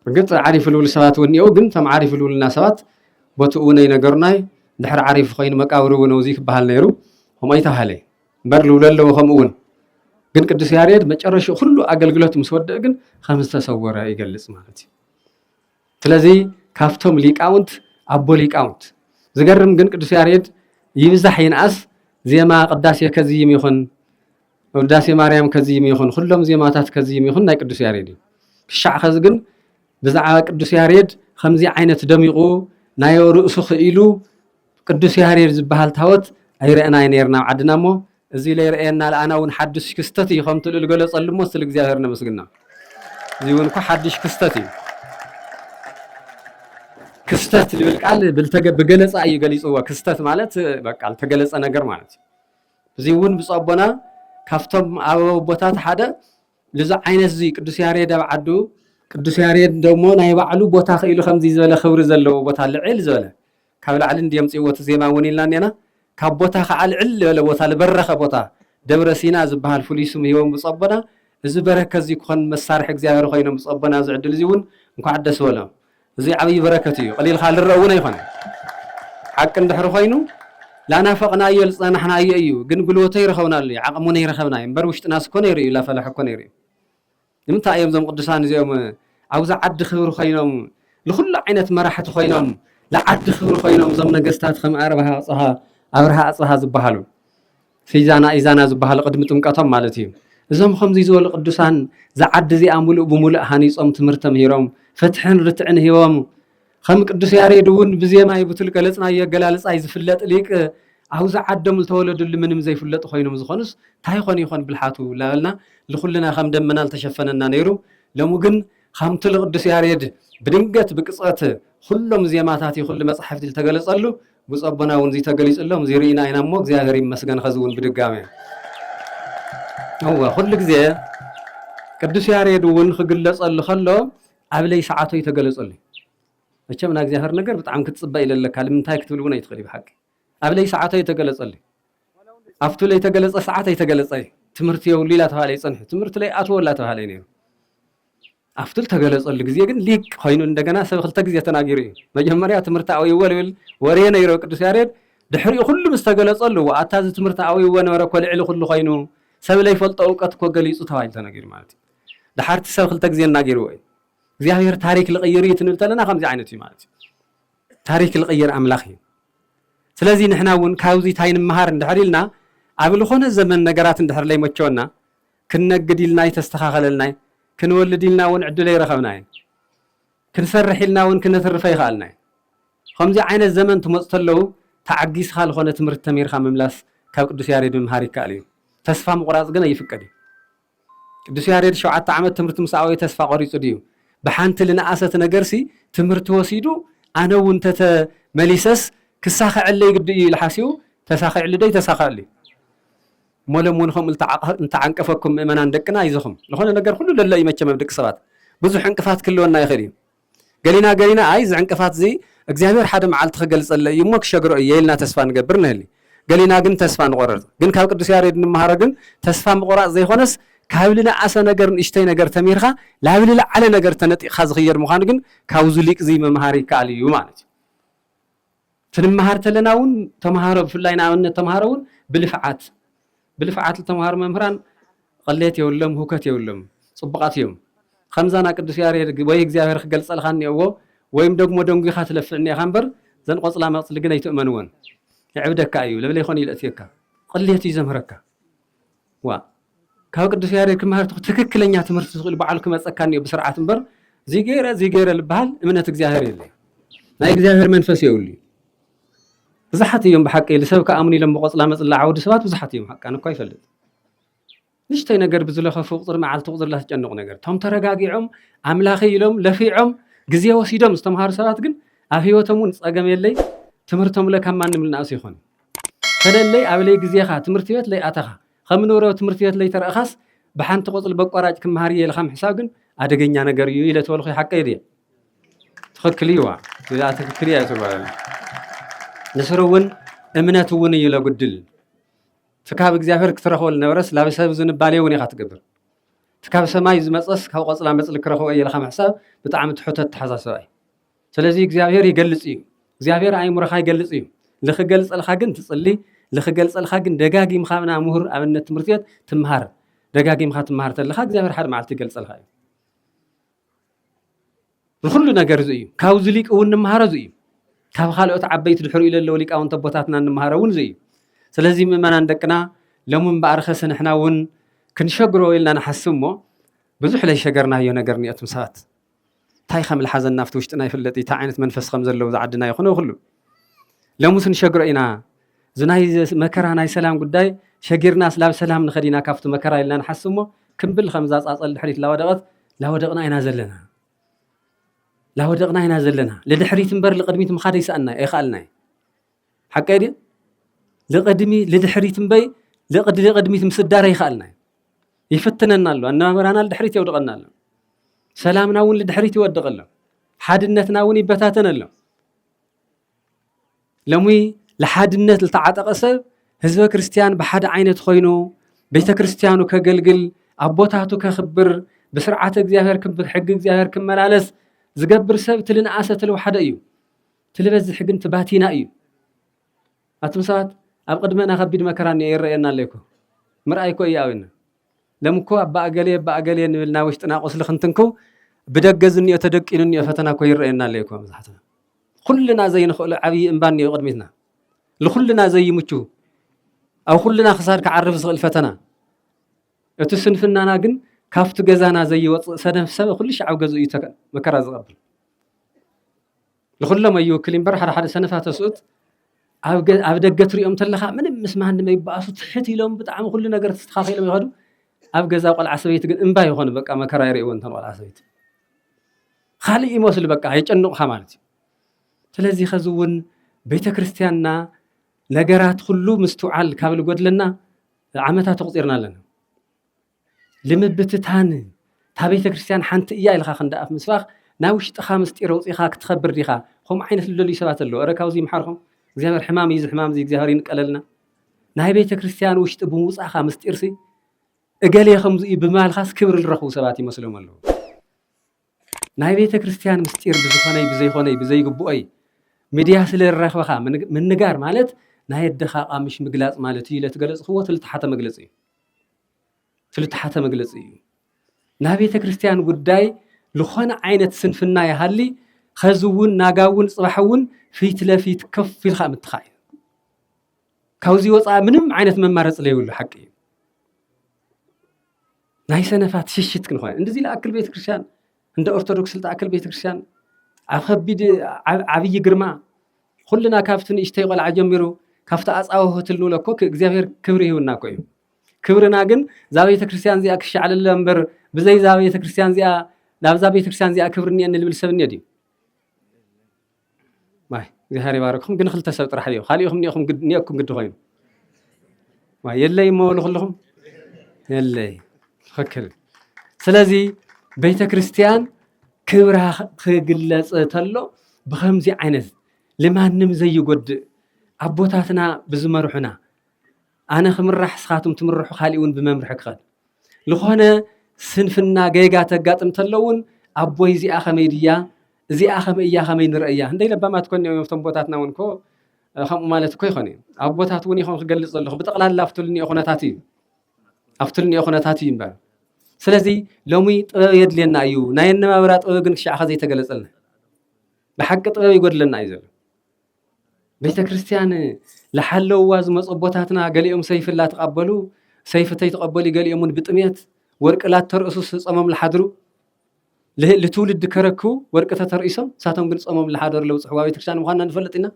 Speaker 1: እርግፅ ዓሪፍ ልብሉ ሰባት እውን እኒአው ግን እቶም ዓሪፍ ልብሉና ሰባት ቦትኡ እውን ኣይነገሩናይ ድሕሪ ዓሪፍ ኮይኑ መቃብር እውን እዚ ክበሃል ነይሩ ከምኡ ኣይተባሃለ እምበር ልብሉ ኣለዎ ከምኡ እውን ግን ቅዱስ ያሬድ መጨረሽኡ ኩሉ ኣገልግሎት ምስ ወደእ ግን ከም ዝተሰወረ ይገልፅ ማለት እዩ ስለዚ ካብቶም ሊቃውንት ኣቦ ሊቃውንት። ዝገርም ግን ቅዱስ ያሬድ ይብዛሕ ይንኣስ ዜማ ቅዳሴ ከዝይም ይኹን ውዳሴ ማርያም ከዝይም ይኹን ኩሎም ዜማታት ከዝይም ይኹን ናይ ቅዱስ ያሬድ እዩ። ክሻዕ ከዚ ግን ብዛዕባ ቅዱስ ያሬድ ከምዚ ዓይነት ደሚቑ ናዮ ርእሱ ክኢሉ ቅዱስ ያሬድ ዝበሃል ታወት ኣይረእናይ ነርና ኣብ ዓድና እሞ እዚ ለይረእየና ለኣና ውን ሓዱሽ ክስተት እዩ ከምቲ ልኡል ገለጸሉ እሞ እስቲ ልእግዚኣብሔር ነመስግና እዚ ውን እኮ ሓዱሽ ክስተት እዩ ክስተት ልብል ቃል ብገለፃ እዩ ገሊፅዎ። ክስተት ማለት በቃ ዝተገለፀ ነገር ማለት እዩ። እዚ እውን ብፁዕ ኣቦና ካብቶም ኣበው ኣቦታት ሓደ ልዚ ዓይነት እዚ ቅዱስ ያሬድ ኣብ ዓዱ ቅዱስ ያሬድ ደሞ ናይ ባዕሉ ቦታ ክኢሉ ከምዚ ዝበለ ክብሪ ዘለዎ ቦታ ልዕል ዝበለ ካብ ላዕሊ እንድዮም ኣምጺእዎ እቲ ዜማ እውን ኢልና እኔና። ካብ ቦታ ከዓ ልዕል ልበለ ቦታ ልበረኸ ቦታ ደብረ ሲና ዝበሃል ፍሉይ ስም ሂቦም ብፁዕ ኣቦና። እዚ በረከት እዙይ ክኾን መሳርሒ እግዚኣብሔር ኾይኖም ብፁዕ ኣቦና ኣብዚ ዕድል እዙይ እውን እንኳዕ ደስ በሎም። እዙይ ዓብይ በረከት እዩ ቐሊልካ ልረእ እውን ኣይኾነን። ሓቂ እንድሕሪ ኾይኑ ላናፈቕናዮ ልፀናሕናዮ እዩ ግን ጉልበቱ ኣይረኸብናሉይ ዓቕሙን ኣይረኸብናይ እምበር ውሽጥናስ እኮ ነይሩ እዩ ላፈላሕ እኮ ነይሩ እዩ። ንምንታይ እዮም እዞም ቅዱሳን እዚኦም ኣብዛ ዓዲ ክብሪ ኮይኖም ንኹሉ ዓይነት መራሕቲ ኮይኖም ንዓዲ ክብሪ ኮይኖም እዞም ነገስታት ከም ኣብርሃ ኣጽሃ ኣብርሃ ኣጽሃ ዝበሃሉ ፊዛና ኢዛና ዝበሃሉ ቅድሚ ጥምቀቶም ማለት እዩ እዞም ከምዚ ዝበሉ ቅዱሳን ዝዓዲ እዚኣ ሙሉእ ብሙሉእ ሃኒፆም ትምህርቲ ተምሂሮም ፍትሕን ርትዕን ሂቦም ኸም ቅዱስ ያሬድ እውን ብዜማይ ብቱል ገለጽናዮ ኣገላልጻይ ዝፍለጥ ሊቅ ኣብ ዝዓደሙ ዝተወለድሉ ምንም ዘይፍለጡ ኾይኖም ዝኾኑስ ታይ ኾን ይኾን ብልሓቱ ላበልና ልኹልና ኸም ደመና ልተሸፈነና ነይሩ ሎሚ ግን ኻምቱል ቕዱስ ያሬድ ብድንገት ብቅጽበት ኹሎም ዜማታት ይኹሉ መጻሕፍቲ ልተገለጸሉ ብፁዕ ኣቦና እውን እዙይ ተገሊጹሎም እዙይ ርኢና ኢና እሞ እግዚኣብሔር ይመስገን ኸዚ እውን ብድጋሜ እወ ኹሉ ግዜ ቅዱስ ያሬድ እውን ኽግለጸሉ ኸሎ ኣብ ለይ ሰዓቶ እዩ ተገለጸሉይ መቸም ናይ እግዚኣብሔር ነገር ብጣዕሚ ክትጽበ ኢለ ኣለካ ልምንታይ ክትብል እውን ኣይትኽእልይ ብሓቂ ኣብ ለይ ሰዓቶ እዩ ተገለጸሉይ ኣብቱ ለይ ተገለጸ ሰዓት ኣይተገለጸ እዩ ትምህርቲ የብሉ ኢላ ተባሃለ ይጸንሑ ትምህርቲ ለይ ኣትወላ ተባሃለ ነይሩ ኣብቱ ተገለጸሉ ግዜ ግን ሊቅ ኮይኑ እንደገና ሰብ ክልተ ግዜ ተናጊሩ እዩ መጀመርያ ትምህርቲ ኣውይዎ ልብል ወሬ ነይሮ ቅዱስ ያሬድ ድሕሪኡ ኩሉ ምስ ተገለጸሉ ኣታ እዚ ትምህርቲ ኣውይዎ ነበረ ኮልዕሊ ኩሉ ኮይኑ ሰብ ለይፈልጦ እውቀት እኮ ገሊጹ ተባሂሉ ተነጊሩ ማለት እዩ ደሓር እቲ ሰብ ክልተ ግዜ እናገርዎ እዩ እግዚኣብሔር ታሪክ ልቅይር እዩ ትንብል ተለና ከምዚ ዓይነት እዩ ማለት እዩ ታሪክ ልቅይር ኣምላክ እዩ ስለዚ ንሕና እውን ካብዚ ታይ ንምሃር እንድሕር ኢልና ኣብ ልኾነ ዘመን ነገራት እንድሕር ለይመቸወና ክንነግድ ኢልና ኣይተስተኻኸለልና እዩ ክንወልድ ኢልና እውን ዕድል ኣይረኸብና እዩ ክንሰርሕ ኢልና እውን ክነትርፈ ይኸኣልና እዩ ከምዚ ዓይነት ዘመን ትመፁ ተለዉ ተዓጊስኻ ልኾነ ትምህርቲ ተሚርካ ምምላስ ካብ ቅዱስ ያሬድ ምምሃር ይከኣል እዩ ተስፋ ምቑራፅ ግን ኣይፍቀድ እዩ ቅዱስ ያሬድ ሸውዓተ ዓመት ትምህርቲ ምስ ኣበዮ ተስፋ ቆሪጹ ድዩ? ብሓንቲ ልነኣሰት ነገርሲ ትምህርቲ ወሲዱ ኣነ እውን ተተ መሊሰስ ክሳኸዐለይ ግዲ እዩ ኢሉ ሓሲቡ ተሳኺዕሉዶ ኣይተሳኸዐሉ እዩ። እሞ ሎም እውን ከምኡ ልተዓንቀፈኩም ምእመናን ደቅና ኣይዞኹም። ልኾነ ነገር ኩሉ ለሎ እዩ መቸም ኣብ ደቂ ሰባት ብዙሕ ዕንቅፋት ክህልወና ይኽእል እዩ። ገሊና ገሊና ኣይ እዚ ዕንቅፋት እዚ እግዚኣብሔር ሓደ መዓልቲ ክገልጸለይ እዩ እሞ ክሸግሮ እየ ኢልና ተስፋ ንገብር ንህሊ። ገሊና ግን ተስፋ ንቆርርጽ። ግን ካብ ቅዱስ ያሬድ እንመሃሮ ግን ተስፋ ምቁራጽ ዘይኮነስ ካብ ልንኣሰ ነገር ንእሽተይ ነገር ተሚርካ ላብ ልልዓለ ነገር ተነጢቅካ ዝክየድ ምኳኑ ግን ካብዙ ሊቅ እዙይ ምምሃር ይከኣል እዩ ማለት እዩ። ክንመሃር ተለና ውን ተምሃሮ ብፍላይ ንኣብነት ተምሃሮ ውን ብልፍዓት ብልፍዓት ልተምሃሩ መምህራን ቕሌት የብሎም ህውከት የብሎም ጽቡቓት እዮም ኸምዛ ና ቅዱስ ያሬድ ወይ እግዚኣብሔር ክገልጸልኻ እኔእዎ ወይም ደግሞ ደንጒኻ ትለፍዕ እኔኻ እምበር ዘን ቖጽላ መቕጽሊ ግን ኣይትእመንወን የዕብደካ እዩ ለብለይኾን እዩ ለእትየካ ቕሌት እዩ ዘምህረካ ዋእ ካብ ቅዱስ ያሬድ ክመሃር ተኾ ትክክለኛ ትምህርቲ ስኢሉ ባዕሉ ክመጸካ እኒኦ ብስርዓት እምበር እዚ ገይረ እዚ ገይረ ልበሃል እምነት እግዚኣብሔር የለ ናይ እግዚኣብሔር መንፈስ የብሉ ብዙሓት እዮም ብሓቂ ልሰብ ከኣምኑ ኢሎም ብቆፅላ መፅላ ዓውዲ ሰባት ብዙሓት እዮም ሓቃን እኳ ይፈልጥ ንሽተይ ነገር ብዝለኸፉ ቁፅሪ መዓልቲ ቁፅሪ ላትጨንቑ ነገር እቶም ተረጋጊዖም ኣምላኸ ኢሎም ለፊዖም ግዜ ወሲዶም ዝተምሃሩ ሰባት ግን ኣብ ህይወቶም እውን ፀገም የለይ ትምህርቶም ለ ካብ ማንም ልናእሱ ይኾን ፈለለይ ኣብ ለይ ግዜኻ ትምህርቲ ቤት ለይ ኣተኻ ኸም ንብረው ትምህርቲ ቤት ለይ ተረእኻስ ብሓንቲ ቆጽሊ በቋራጭ ክምሃር እየ ኢልኻ ምሕሳብ ግን ኣደገኛ ነገር እዩ ኢለ ተበልኹ ሓቀይ ድየ ትኽክል እዩዋ እዚኣ ትክክል እያ ትባል ንስሩ እውን እምነት እውን እዩ ለጉድል እቲ ካብ እግዚኣብሔር ክትረኽቦ ዝነበረስ ላብ ሰብ ዝንባሌ እውን ኢኻ ትገብር እቲ ካብ ሰማይ ዝመፀስ ካብ ቆፅላ መፅሊ ክረኽቦ እየ ኢልኻ ምሕሳብ ብጣዕሚ ትሑት ኣተሓሳስባ እዩ ስለዚ እግዚኣብሔር ይገልጽ እዩ እግዚኣብሔር ኣእምሮኻ ይገልጽ እዩ ልክገልጸልካ ግን ትጽሊ ልክገልጸልካ ግን ደጋጊምካ ና ምሁር ኣብነት ትምህርቲ ቤት ትምሃር ደጋጊምካ ትምሃር ተለካ እግዚኣብሔር ሓደ መዓልቲ ይገልጸልካ እዩ ንኩሉ ነገር እዚ እዩ ካብዚ ሊቅ እውን ንምሃሮ እዚ እዩ ካብ ካልኦት ዓበይቲ ድሕሪ ኢለ ኣለዎ ሊቃውንት ኣቦታትና ንምሃሮ እውን እዚ እዩ ስለዚ ምእመናን ደቅና ሎሚ እምበኣር ኸስ ንሕና እውን ክንሸግሮ ኢልና ንሓስብ እሞ ብዙሕ ለይሸገርናዮ ነገር እኒኦትም ሰባት ታይ ከም ልሓዘና ኣብቲ ውሽጥና ይፍለጥ እዩ ታይ ዓይነት መንፈስ ከም ዘለዎ እዛ ዓድና ይኹን ኣብ ኩሉ ለሙስ ንሸግሮ ኢና እዚ ናይ መከራ ናይ ሰላም ጉዳይ ሸጊርና ስላብ ሰላም ንኸድ ኢና ካብቲ መከራ ኢልና ንሓስብ እሞ ክምብል ከምዛ ፃፀል ድሕሪት ላወደቐት ላወደቕና ኢና ዘለና ላወደቕና ኢና ዘለና ልድሕሪት እምበር ልቅድሚት ምኻድ ይሰኣና ኣይኸኣልና እዩ ሓቀይ ድዩ? ልቕድሚ ልድሕሪት እምበይ ልቕዲ ልቕድሚት ምስዳር ኣይከኣልና እዩ ይፍትነና ኣሎ ኣነባበራና ልድሕሪት የውድቐና ኣሎ ሰላምና እውን ልድሕሪት ይወድቕ ኣሎ ሓድነትና እውን ይበታተን ኣሎ ሎሚ ልሓድነት ዝተዓጠቐ ሰብ ህዝበ ክርስትያን ብሓደ ዓይነት ኮይኑ ቤተ ክርስትያኑ ከገልግል ኣቦታቱ ከኽብር ብስርዓተ እግዚኣብሔር ሕጊ እግዚኣብሔር ክመላለስ ዝገብር ሰብ እቲ ልንኣሰ እቲ ልውሓደ እዩ ትልበዝሕ ግን ትባቲና እዩ ኣቱም ሰባት ኣብ ቅድመና ከቢድ መከራ እኒኦ ይረእየና ኣሎ እኮ ምርኣይ እኮ እያዊና ለም እኮ ኣባ እገሌ ኣባ እገሌ ንብል ናብ ውሽጥና ቁስሊ ክንትንክው ብደገ ዝኒኦ ተደቂኑ እኒኦ ፈተና እኮ ይረእየና ኣሎ እኮ መብዛሕትና ኩልና ዘይንኽእሎ ዓብዪ እምባ እኒኦ ቅድሚትና ንኩልና ዘይምቹ ኣብ ኩልና ክሳድ ክዓርፍ ዝኽእል ፈተና እቲ ስንፍናና ግን ካብቲ ገዛና ዘይወፅእ ሰነፍ ሰብ ኩሉ ሻዕ ኣብ ገዝኡ እዩ መከራ ዝቐብል ንኹሎም ኣይውክል እምበር ሓደ ሓደ ሰነፋት ተስኡት ኣብ ደገ ትሪኦም ተለኻ ምንም ምስ ማንም ኣይበኣሱ ትሕት ኢሎም ብጣዕሚ ኩሉ ነገር ተስተኻኺሎም ይኸዱ ኣብ ገዛ ቆልዓ ሰበይቲ ግን እምባ ይኾኑ በቃ መከራ ይርእዎ እንተን ቆልዓ ሰበይቲ ካልእ ይመስሉ በቃ የጨንቑኻ ማለት እዩ ስለዚ ከዚ እውን ቤተ ክርስቲያንና ነገራት ኩሉ ምስትውዓል ካብ ዝጎድለና ዓመታት ተቑፂርና ኣለና ልምብትታን እታ ቤተ ክርስቲያን ሓንቲ እያ ኢልካ ክንዲ ኣፍ ምስባኽ ናይ ውሽጥኻ ምስጢር ኣውፂኻ ክትኸብር ዲኻ? ከምኡ ዓይነት ልደልዩ ሰባት ኣለዉ። እረ ካብዚ ይምሓርኩም እግዚኣብሔር ሕማም እዩ እዚ ሕማም እዚ እግዚኣብሔር ይንቀለልና። ናይ ቤተ ክርስቲያን ውሽጢ ብምውፃኻ ምስጢርሲ እገሌ ከምዚ እዩ ብምባልካስ ክብሪ ዝረኽቡ ሰባት ይመስሎም ኣለዉ። ናይ ቤተ ክርስቲያን ምስጢር ብዝኾነይ ብዘይኾነይ ብዘይግብኦይ ሚድያ ስለ ዝረኽበኻ ምንጋር ማለት ናይ ኣደኻ ቃምሽ ምግላፅ ማለት እዩ ኢለ ትገለፅክዎ ትልተሓተ መግለፂ እዩ። ዝልተሓተ መግለፂ እዩ። ናይ ቤተ ክርስቲያን ጉዳይ ዝኾነ ዓይነት ስንፍና ይሃሊ ኸዚ እውን ናጋ እውን ፅባሕ እውን ፊት ለፊት ከፍ ኢልካ ምትኻእ እዩ ካብዚ ወፃኢ ምንም ዓይነት መማረፂ ዘይብሉ ሓቂ እዩ ናይ ሰነፋት ሽሽት ክንኾነ እንደዚ ልኣክል ቤተክርስትያን እንደ ኦርቶዶክስ ልተኣክል ቤተክርስትያን ኣብ ከቢድ ዓብዪ ግርማ ኩልና ካብቲ ንእሽተይ ቆልዓ ጀሚሩ ካብቲ ኣፃወ ሆትል ንብሎ እኮ እግዚኣብሔር ክብሪ ይህብና እኮ እዩ ክብርና ግን እዛ ቤተ ክርስቲያን እዚኣ ክሻዕለለ እምበር ብዘይ እዛ ቤተ ክርስቲያን እዚኣ ናብዛ ቤተ ክርስቲያን እዚኣ ክብሪ እኒአኒ ዝብል ሰብ እኒኦ ድዩ? ማይ እግዚኣብሔር ይባርክኹም። ግን ክልተ ሰብ ጥራሕ እዮ ካልኢኹም እኒኦኹም እኒኦኩም ግዲ ኮይኑ ማይ የለይ እሞ በሉ ኩልኹም የለይ ትኽክል። ስለዚ ቤተ ክርስቲያን ክብራ ክግለፅ ተሎ ብከምዚ ዓይነት ልማንም ዘይጎድእ ኣቦታትና ብዝመርሑና ኣነ ክምራሕ ስኻቱም ትምርሑ ካሊእ ውን ብመምርሒ ክኸድ ልኾነ ስንፍና ገይጋ ተጋጥም ተሎ ውን ኣቦይ እዚኣ ከመይ ድያ እዚኣ ከምይ እያ ከመይ ንርእያ እንደይ ለባማት ኮን ዮም ቶም ቦታትና ውን ኮ ከምኡ ማለት እኮ ይኾን እዩ ኣቦታት እውን ይኾን ክገልፅ ዘለኹ ብጠቕላላ ኣብትልኒኦ ኩነታት እዩ ኣብትልኒኦ ኩነታት እዩ እምበር ስለዚ ሎሚ ጥበብ የድልየና እዩ ናይ ኣነባብራ ጥበብ ግን ክሻዕኸ ዘይተገለፀልና ብሓቂ ጥበብ ይጎድለና እዩ ዘሎ ቤተክርስትያን ልሓለውዋ ዝመፁ ኣቦታትና ገሊኦም ሰይፊ ላተቀበሉ ሰይፊ ተይተቀበሉ ገሊኦም እውን ብጥሜት ወርቂ ላተርእሱ ፆሞም ልሓድሩ ልትውልድ ከረክቡ ወርቂ ተተርኢሶም ንሳቶም ግን ፆሞም ልሓደሩ ለብፅሕዋ ቤተክርስትያን ምኳና ንፈልጥ ኢና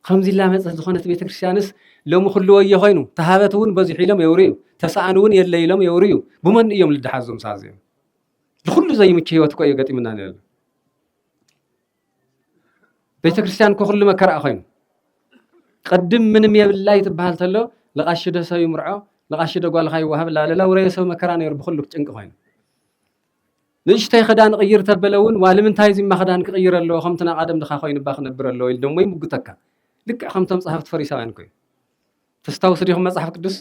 Speaker 1: ከምዚ ላመፀት ዝኾነት ቤተክርስትያንስ ሎሚ ኩሉ ወዮ ኮይኑ ተሃበት እውን በዚሑ ኢሎም የውርዩ ተሰኣን እውን የለ ኢሎም የውርዩ ብመን እዮም ልደሓዞም ሳዚኦም ንኩሉ ዘይምቹ ሂወት እኮ እዩ ገጢሙና ነሎ ቤተክርስትያን እኮ ኩሉ መከራ ኮይኑ ቅድም ምንም የብላይ ትበሃል ተሎ ልቃሺ ዶ ሰብ ይምርዖ ልቃሺ ዶ ጓልካ ይወሃብ ላለ ውረየ ሰብ መከራ ነይሩ ብኩሉ ጭንቂ ኮይኑ ንእሽተይ ክዳን ቅይር ተበለ እውን ዋልምንታይ እዚማ ክዳን ክቅይር ኣለዎ ከምቲ ናይ ቀደም ድካ ኮይኑባ ክነብር ኣለዎ ኢሉ ደሞ ይምጉተካ ልክዕ ከምቶም ፀሃፍቲ ፈሪሳውያን ኮይኑ ተስታውሱ ዲኹም መፅሓፍ ቅዱስ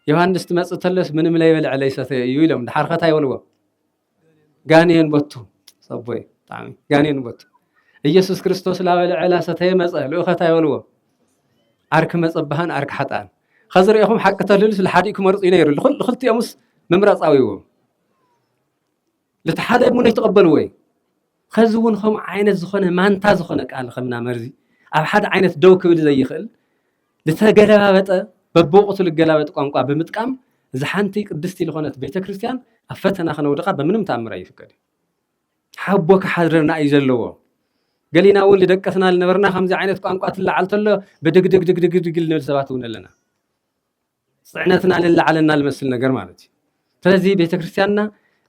Speaker 1: ዮሃንስ ትመፅእ ተለስ ምንም ለይበልዐ ለይሰተየ እዩ ኢሎም ድሓርከታ ይበልዎ ጋኔን በቱ ሰቦይ ብጣዕሚ ጋኔን በቱ ኢየሱስ ክርስቶስ ላበ ልዕላ ሰተየ መፀ ልኡኸት ኣይበልዎ ዓርኪ መፀባህን ዓርኪ ሓጣን ከዚ ሪኢኹም ሓቂ ተልህሉስ ልሓዲኡ ክመርፁ እዩ ነይሩ ክልቲኦምስ ምምራፃዊዎ ልቲ ሓደ ሙን ይተቐበልዎ እዩ ከዚ እውን ከምኡ ዓይነት ዝኾነ ማንታ ዝኾነ ቃል ከምና መርዚ ኣብ ሓደ ዓይነት ደው ክብል ዘይኽእል ልተገለባበጠ በብወቕቱ ልገላበጥ ቋንቋ ብምጥቃም እዛ ሓንቲ ቅድስቲ ልኾነት ቤተ ክርስቲያን ኣብ ፈተና ክነውድቓ በምንም ተኣምር ኣይፍቀድን። ሓቦ ክሓድረና እዩ ዘለዎ። ገሊና እውን ልደቀስና ልነበርና ከምዚ ዓይነት ቋንቋ ትለዓል ተሎ ብድግድግድግድግድግ ንብል ሰባት እውን ኣለና። ፅዕነትና ልለዓለና ልመስል ነገር ማለት እዩ። ስለዚ ቤተክርስቲያንና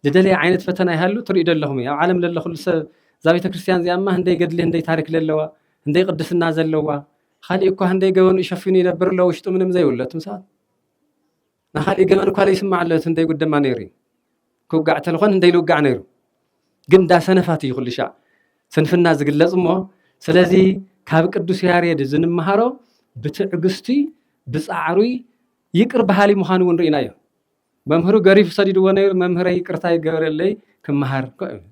Speaker 1: ዝደለየ ዓይነት ፈተና ይሃሉ ትርእዩ ዶ ኣለኹም እዩ። ኣብ ዓለም ለሎ ኩሉ ሰብ እዛ ቤተክርስቲያን እዚኣ እማ ህንደይ ገድሊ ህንደይ ታሪክ ለለዋ፣ ህንደይ ቅድስና ዘለዋ፣ ኻሊእ እኳ ህንደይ ገበኑ ሸፊኑ ይነብር ኣሎ ውሽጡ ምንም ዘይብሎ እትም ሰባት ናኻሊእ ገበን እኳ ዘይስማዕ ኣሎ እቲ ህንደይ ጉድ ድማ ነይሩ እዩ። ክውጋዕ ተልኾን ህንደይ ልውጋዕ ነይሩ ግን እንዳ ሰነፋት እዩ ኩሉ ሻዕ ስንፍና ዝግለጽ እሞ ስለዚ ካብ ቅዱስ ያሬድ ዝንምሃሮ ብትዕግስቱይ ብጻዕሩይ ይቅር በሃሊ ምዃኑ እውን ርኢናዮ። መምህሩ ገሪፉ ሰዲድዎ ነይሩ፣ መምህረይ ይቅርታ ይገበረለይ ክመሃር እኮ ይብል።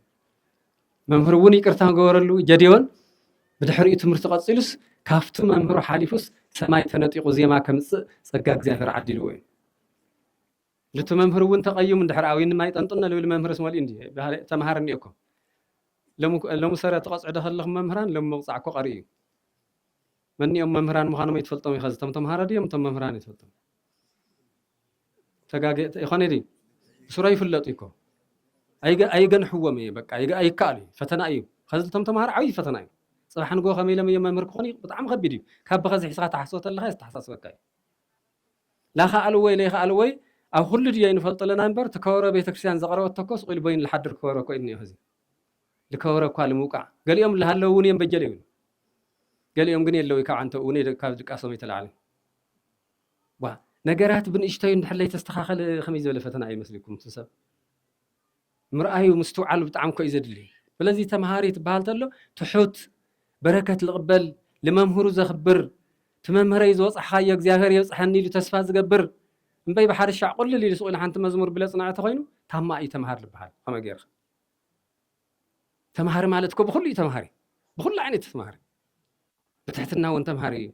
Speaker 1: መምህሩ እውን ይቅርታ ገበረሉ፣ ጀዴዎን ብድሕሪኡ ትምህርቱ ቀጺሉስ ካብቲ መምህሩ ሓሊፉስ ሰማይ ተነጢቑ ዜማ ከምጽእ ጸጋ እግዚኣብሔር ዓዲልዎ እዩ። ልቲ መምህር እውን ተቐዩም እንድሕር ኣዊን ማይ ጠንጥነ ልብል መምህርስ መሊኡ እንዲ ተምሃር እኒኦ እኮ ሎሚ ሰረ ትቐፅዑ ዶ ከለኹም መምህራን ሎሚ ምቕፃዕ እኮ ቀሪ እዩ መንእዮም መምህራን ምዃኖም ኣይትፈልጦም ኢኻ እቶም ተምሃሮ ድዮም እቶም መምህራን ኣይትፈልጦም ተጋገ ይኾነ ድዩ ብስሮ ይፍለጡ እኮ ኣይገንሕዎም እየ በቃ ኣይከኣሉ እዩ ፈተና እዩ ከዚ እቶም ተምሃሮ ዓብዪ ፈተና እዩ ፅባሕ ንጎ ከመይ ኢሎም እዮም መምህር ክኾኑ ብጣዕሚ ከቢድ እዩ ካብ ብኸዚ ሒስኻ ተሓስቦ ተለኻ ዝተሓሳስበካ እዩ ላኸኣሉ ወይ ለይኸኣሉ ወይ ኣብ ኩሉ ድዮ ይንፈልጦ ኣለና እምበር እቲ ከበሮ ቤተክርስትያን ዘቕረበቶ እኮ ስቑኢሉ በይኑ ዝሓድር ከበሮ እኮ እዩ እኒኦ ሕዚ ዝከበረ እኳ ንምውቃዕ ገሊኦም ዝሃለዉ እውን እዮም በጀለ ይብሉ ገሊኦም ግን የለውይ ካብ ዓንተብኡ ውን ካብ ድቃሶም ኣይተላዕለን ብ ነገራት ብንእሽተዩ እንድሕር ለይተስተኻኸለ ከመይ ዝበለ ፈተና እዩ መስልኩም እቲ ሰብ ምርኣዩ ምስትውዓሉ ብጣዕሚ እኮ እዩ ዘድሊ ስለዚ ተምሃሪ ትበሃል ተሎ ትሑት በረከት ልቕበል ልመምህሩ ዘኽብር ትመምህረይ ዝወፅሕኻዮ እግዚኣብሔር የብፅሐኒ ኢሉ ተስፋ ዝገብር እምበይ ብሓደ ሻዕ ቁልል ኢሉ ስቑኢሉ ሓንቲ መዝሙር ብለ ፅናዕ ተኾይኑ ታማ እዩ ተምሃር ልበሃል ከመይ ገይርኻ ተምሃሪ ማለት እኮ ብኹሉ እዩ ተምሃሪ ብኹሉ ዓይነት ተምሃሪ ብትሕትና እውን ተምሃሪ እዩ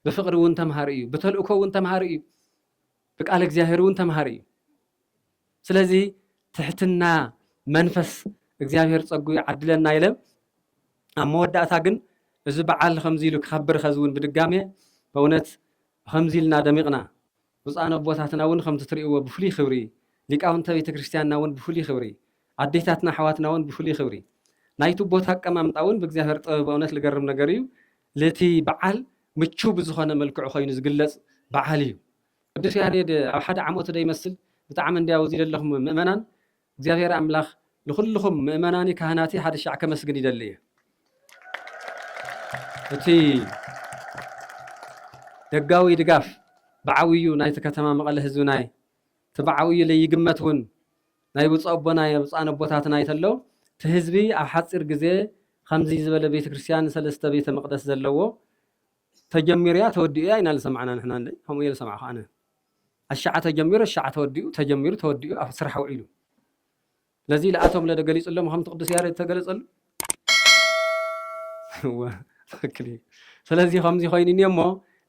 Speaker 1: ብፍቅሪ እውን ተምሃሪ እዩ ብተልእኮ እውን ተምሃሪ እዩ ብቃል እግዚኣብሔር እውን ተምሃሪ እዩ ስለዚ ትሕትና መንፈስ እግዚኣብሔር ጸጉ ይዓድለና ኢለ ኣብ መወዳእታ ግን እዚ በዓል ከምዚ ኢሉ ክኸብር ኸዚ እውን ብድጋሜ በእውነት ከምዚ ኢልና ደሚቕና ብፁዓን ኣቦታትና ውን ከምቲ ትርእይዎ ብፍሉይ ክብሪ፣ ሊቃውንተ ቤተ ክርስቲያንና ውን ብፍሉይ ክብሪ፣ ኣዴታትና ኣሕዋትና ውን ብፍሉይ ክብሪ፣ ናይቱ ቦታ ኣቀማምጣ ውን ብእግዚኣብሔር ጥበብ በእውነት ልገርም ነገር እዩ ልቲ በዓል ምችው ብዝኾነ መልክዑ ኮይኑ ዝግለጽ በዓል እዩ። ቅዱስ ያሬድ ኣብ ሓደ ዓመቱ ዶ ይመስል ብጣዕሚ እንድያው እዚ ለለኹም ምእመናን እግዚኣብሔር ኣምላኽ ንኹልኹም ምእመናኒ ካህናቲ ሓደ ሻዕ ከመስግን ይደሊ እየ እቲ ደጋዊ ድጋፍ ብዓብዩ ናይቲ ከተማ መቐለ ህዝቢ ናይ እቲ ብዓብዩ ለይግመት እውን ናይ ብፁዕ ኣቦና የብፃን ኣቦታትና ይተሎ እቲ ህዝቢ ኣብ ሓፂር ግዜ ከምዚ ዝበለ ቤተ ክርስቲያን ሰለስተ ቤተ መቅደስ ዘለዎ ተጀሚሩ እያ ተወዲኡ እያ ኢና ዝሰማዕና ንሕና ከምኡ እየ ዝሰማዕኹ ኣነ ኣሻዓተ ጀሚሩ ኣሻዓተ ወዲኡ ተጀሚሩ ተወዲኡ ኣብ ስራሕ ውዒሉ ለዚ ለኣቶም ለደ ገሊጽሎም ከምቲ ቅዱስ ያሬድ ተገለጸሉ እወ ትክክል እዩ ስለዚ ከምዚ ኮይኑ እኒኦ እሞ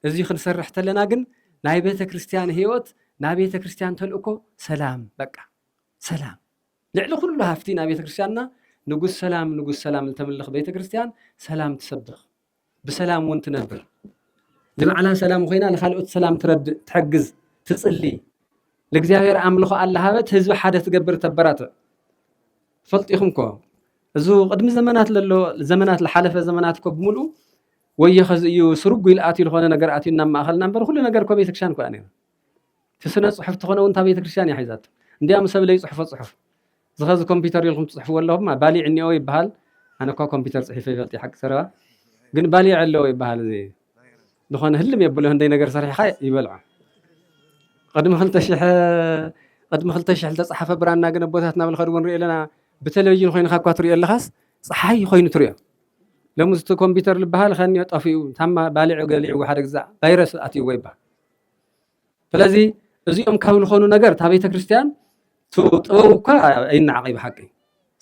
Speaker 1: እዚ ክንሰርሕ ተለና ግን ናይ ቤተ ክርስቲያን ህይወት ናይ ቤተ ክርስቲያን ተልእኮ ሰላም በቃ ሰላም ልዕሊ ኩሉ ሃፍቲ ናይ ቤተ ክርስቲያንና ንጉስ ሰላም ንጉስ ሰላም ዝተምልኽ ቤተ ክርስቲያን ሰላም ትሰብኽ ብሰላም እውን ትነብር። ንባዕላ ሰላም ኮይና ንካልኦት ሰላም ትረድእ፣ ትሕግዝ፣ ትጽሊ፣ ንእግዚኣብሔር ኣምልኾ ኣላሃበት ህዝቢ ሓደ ትገብር ተበራትዕ። ፈልጢኹም ኮ እዚ ቅድሚ ዘመናት ለሎ ዘመናት ዝሓለፈ ዘመናት ኮ ብምልኡ ወዮ ከዚ እዩ ስርጉ ኢሉ ኣትዩ ዝኾነ ነገር ኣትዩ ናብ ማእኸልና እምበር ኩሉ ነገር ኮ ቤተክርስትያን ኮ እያ ነይራ። እቲ ስነ ጽሑፍ ተኾነ እውን እታ ቤተ ክርስቲያን እያ ሒዛቶ እንዲያ ምሰብ ለይጽሕፎ ጽሑፍ እዚ ኸዚ ኮምፒተር ኢልኩም ትጽሕፍዎ ኣለኹም ባሊዕ እኒኦ ይበሃል ኣነ እኳ ኮምፒተር ጽሒፈ ይፈልጥ እየ ሓቂ ዘረባ ግን ባሊዕ ኣለዎ ይበሃል እዚ ዝኾነ ህልም የብሎ ህንደይ ነገር ሰሪሕኻ ይበልዖ ቅድሚ ክልተ ሽሕ ቅድሚ ክልተ ሽሕ ዝተፅሓፈ ብራና ግን ኣቦታት ናብ ልኸድዎ ንሪኦ ኣለና ብቴሌቭዥን ኮይንካ እኳ ትሪኦ ኣለኻስ ፀሓይ ኮይኑ ትሪኦ ሎሚ እቲ ኮምፒተር ዝበሃል ከኒዮ ጠፊኡ ታማ ባሊዑ ገሊዑ ሓደ ግዛ ቫይረስ ኣትይዎ ይበሃል ስለዚ እዚኦም ካብ ዝኾኑ ነገር እታ ቤተ ክርስቲያን ጥበብ እኳ ኣይናዓቕ እዩ ብሓቂ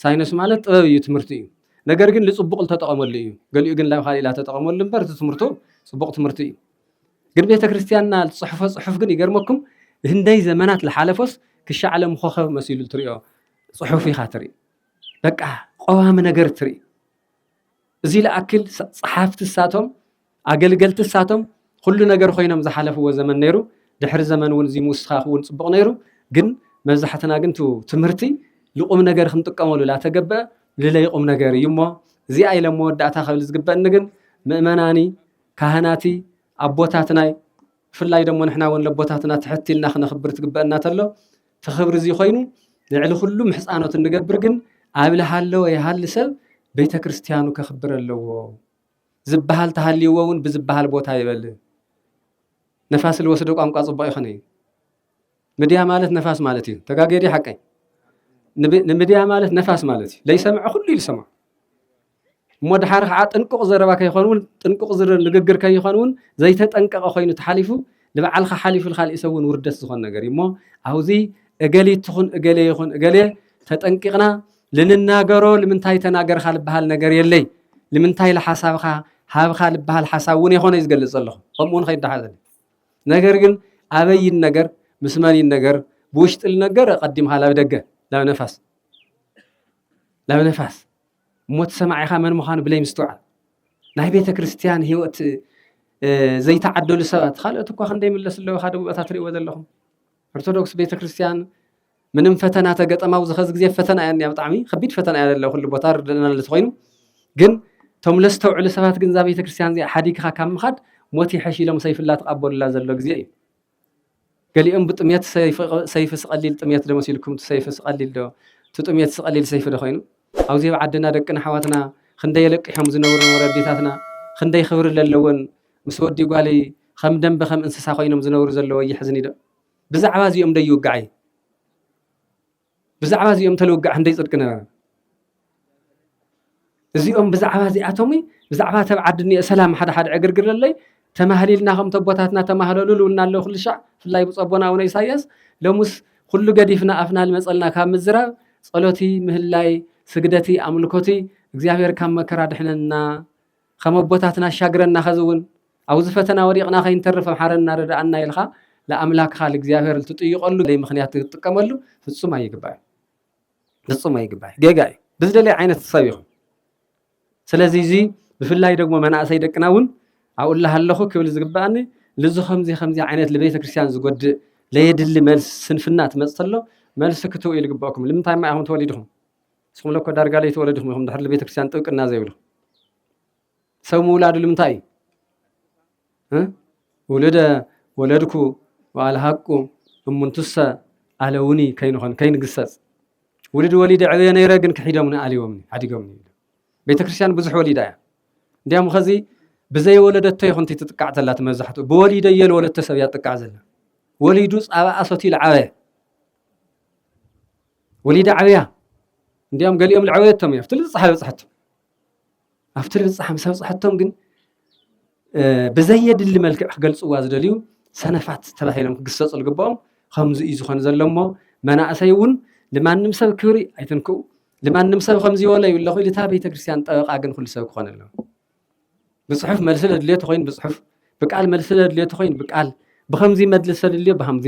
Speaker 1: ሳይንስ ማለት ጥበብ እዩ ትምህርቲ እዩ ነገር ግን ልፅቡቕ ልተጠቐመሉ እዩ ገሊኡ ግን ላብ ካልእ ላተጠቐመሉ እምበር እቲ ትምህርቱ ፅቡቕ ትምህርቲ እዩ ግን ቤተ ክርስቲያንና ዝፅሕፎ ፅሑፍ ግን ይገርመኩም ህንደይ ዘመናት ልሓለፎስ ክሻዕ ዓለም ኮኸብ መሲሉ ትሪኦ ፅሑፍ ኢኻ ትርኢ በቃ ቀዋሚ ነገር ትርኢ እዚ ልኣክል ጸሓፍቲ እሳቶም ኣገልገልቲ እሳቶም ኹሉ ነገር ኾይኖም ዝሓለፍዎ ዘመን ነይሩ ድሕሪ ዘመን እውን እዙይ ምውስኻኽ እውን ጽቡቕ ነይሩ ግን መብዛሕትና ግን ቱ ትምህርቲ ልቑም ነገር ክንጥቀመሉ ላተገበ ልለይቑም ነገር እዩ እሞ እዚኣ ኢለ መወዳእታ ከብል ዝግበእኒ ግን ምእመናኒ ካህናቲ ኣቦታትናይ ብፍላይ ደሞ ንሕና እውን ለቦታትና ትሕት ኢልና ክነኽብር ትግበእና ተሎ እቲ ክብሪ እዚ ኮይኑ ልዕሊ ኩሉ ምሕፃኖት እንገብር ግን ኣብ ልሃለወ ይሃሊ ሰብ ቤተ ክርስቲያኑ ከኽብር ኣለዎ ዝበሃል ተሃልይዎ እውን ብዝበሃል ቦታ ይበል ነፋስ ልወስዶ ቋንቋ ፅቡቅ ይኸነ እዩ ምድያ ማለት ነፋስ ማለት እዩ ተጋጌዲ ሓቀይ ንምድያ ማለት ነፋስ ማለት እዩ ለይሰምዐ ኩሉ ይልሰማ እሞ ድሓር ኸዓ ጥንቁቕ ዘረባ ከይኾን እውን ጥንቁቕ ንግግር ከይኾን እውን ዘይተጠንቀቐ ኮይኑ ተሓሊፉ ንባዕልኻ ሓሊፉ ንኻሊእ ሰብ እውን ውርደት ዝኾን ነገር እዩ እሞ ኣብዙ እገሊት ትኹን እገሌ ይኹን እገሌ ተጠንቂቕና ልንናገሮ ልምንታይ ተናገርኻ ልበሃል ነገር የለይ ልምንታይ ልሓሳብኻ ሃብኻ ልበሃል ሓሳብ እውን የኾነ እዩ ዝገልፅ ዘለኹ ከምኡ እውን ከይዳሓዘኒ ነገር ግን ኣበይ ይነገር ምስ መን ይነገር ብውሽጢ ልነገር ቀዲምካ ላብ ደገ ላብ ነፋስ ላብ ነፋስ ሞት ሰማዒኻ መን ምዃኑ ብለይ ምስትውዓል ናይ ቤተ ክርስቲያን ህይወት ዘይተዓደሉ ሰባት ካልኦት እኳ ክንደይ ምለስ ኣለዎ ካደ ቦታ ትሪእዎ ዘለኹም ኦርቶዶክስ ቤተ ክርስቲያን ምንም ፈተና ተገጠማ ኣብዚ ኸዚ ግዜ ፈተና እያ እኒኣ ብጣዕሚ ከቢድ ፈተና እያ ዘለ ኩሉ ቦታ ርድና ለዝኮይኑ ግን እቶም ለዝተውዕሉ ሰባት ግን እዛ ቤተ ክርስቲያን እዚኣ ሓዲግኻ ካብ ምኻድ ሞት ይሐሽ ኢሎም ሰይፍላ ተቐበሉላ ዘሎ ግዜ እዩ ገሊኦም ብጥምየት ሰይፊ ስቀሊል ጥምየት ዶ መሲልኩም እቲ ሰይፊ ስቀሊል ዶ እቲ ጥምየት ስቀሊል ሰይፊ ዶ ኮይኑ ኣብዚ ኣብ ዓድና ደቅና ኣሕዋትና ክንደይ ኣለቂሖም ዝነብሩ ወለዲታትና ክንደይ ክብሪ ለለወን ምስ ወዲ ጓልይ ከም ደንበ ከም እንስሳ ኮይኖም ዝነብሩ ዘለወ የሕዝንይ ዶ ብዛዕባ እዚኦም ዶ ይውጋዕይ ብዛዕባ እዚኦም እንተልውግዕ ህንደይ ጽድቂ ነበረ። እዚኦም ብዛዕባ እዚኣቶም ብዛዕባ ተብ ዓዲ እኒኦ ሰላም ሓደ ሓደ ዕግርግር ኣለይ ተማህሊልና ከም ተቦታትና ተማህለሉ ልውና ኣሎ ኩሉ ሻዕ ብፍላይ ብፀቦና ኣቡነ ኢሳያስ ሎሙስ ኩሉ ገዲፍና ኣፍና ልመፀልና ካብ ምዝራብ ጸሎቲ ምህላይ ስግደቲ ኣምልኮቲ እግዚኣብሔር ካብ መከራ ድሕነና ኸም ኣቦታትና ኣሻግረና ኸዚ እውን ኣውዚ ፈተና ወዲቅና ከይንተርፍ ምሓረና ርደኣና ኢልኻ ልኣምላክኻ ልእግዚኣብሔር ልትጥይቀሉ ዘይ ምክንያት ትጥቀመሉ ፍፁም ኣይግባእን ፍፁም ኣይግባእን ጌጋ እዩ ብዝደለይ ዓይነት ሰብ ይኹን ስለዚ እዚ ብፍላይ ደግሞ መናእሰይ ደቅና እውን ኣብኡ ኣለኹ ክብል ዝግባእኒ ልዚ ከምዚ ከምዚ ዓይነት ልቤተ ክርስቲያን ዝጎድእ ለየድሊ መልሲ ስንፍና ትመፅ ተሎ መልሲ ክትው ኢሉ ግበእኩም ልምንታይ ማ ኢኹም ተወሊድኹም ንስኹም እኮ ዳርጋ ለይትወለዱ ኢኹም ኢኹም ድሕሪ ቤተክርስትያን ጥብቅና ዘይብሉ ሰብ ምውላዱ ልምንታይ እዩ ውልደ ወለድኩ ወኣልሃቁ እሙንቱሰ ኣለውኒ ከይንኾን ከይንግሰፅ ውልድ ወሊደ ዕበየ ነይረ ግን ክሒዶምኒ ኣልዮምኒ ሓዲጎምኒ ቤተክርስትያን ብዙሕ ወሊዳ እያ እንዲያም ኸዚ ብዘይወለደቶ ይኹንቲ ትጥቃዕ ዘላ እቲ መብዛሕትኡ ብወሊደ እየ ዝወለድቶ ሰብ እያ ትጥቃዕ ዘላ ወሊዱ ፃባኣ ሰትዩ ዝዓበየ ወሊዳ ዓብያ እንዲኦም ገሊኦም ልዐወየቶም እዩ ኣብቲ ልብፅሓ በፅሐቶም ኣብቲ ልብፅሓ ምስ ኣብፅሐቶም ግን ብዘየድሊ መልክዕ ክገልፅዋ ዝደልዩ ሰነፋት ተባሂሎም ክግሰፁ ዝግብኦም ከምዚ እዩ ዝኾን ዘሎ እሞ መናእሰይ እውን ንማንም ሰብ ክብሪ ኣይትንክኡ ንማንም ሰብ ከምዚ በሎ ይብለኹ ኢልታ ቤተክርስትያን ጠበቃ ግን ኩሉ ሰብ ክኾን ኣለዎ ብፅሑፍ መልሲ ለድልዮ ተኾይኑ ብፅሑፍ ብቃል መልሲ ለድልዮ ተኾይኑ ብቃል ብኸምዚ መድልስ ተድልዮ ብኸምዚ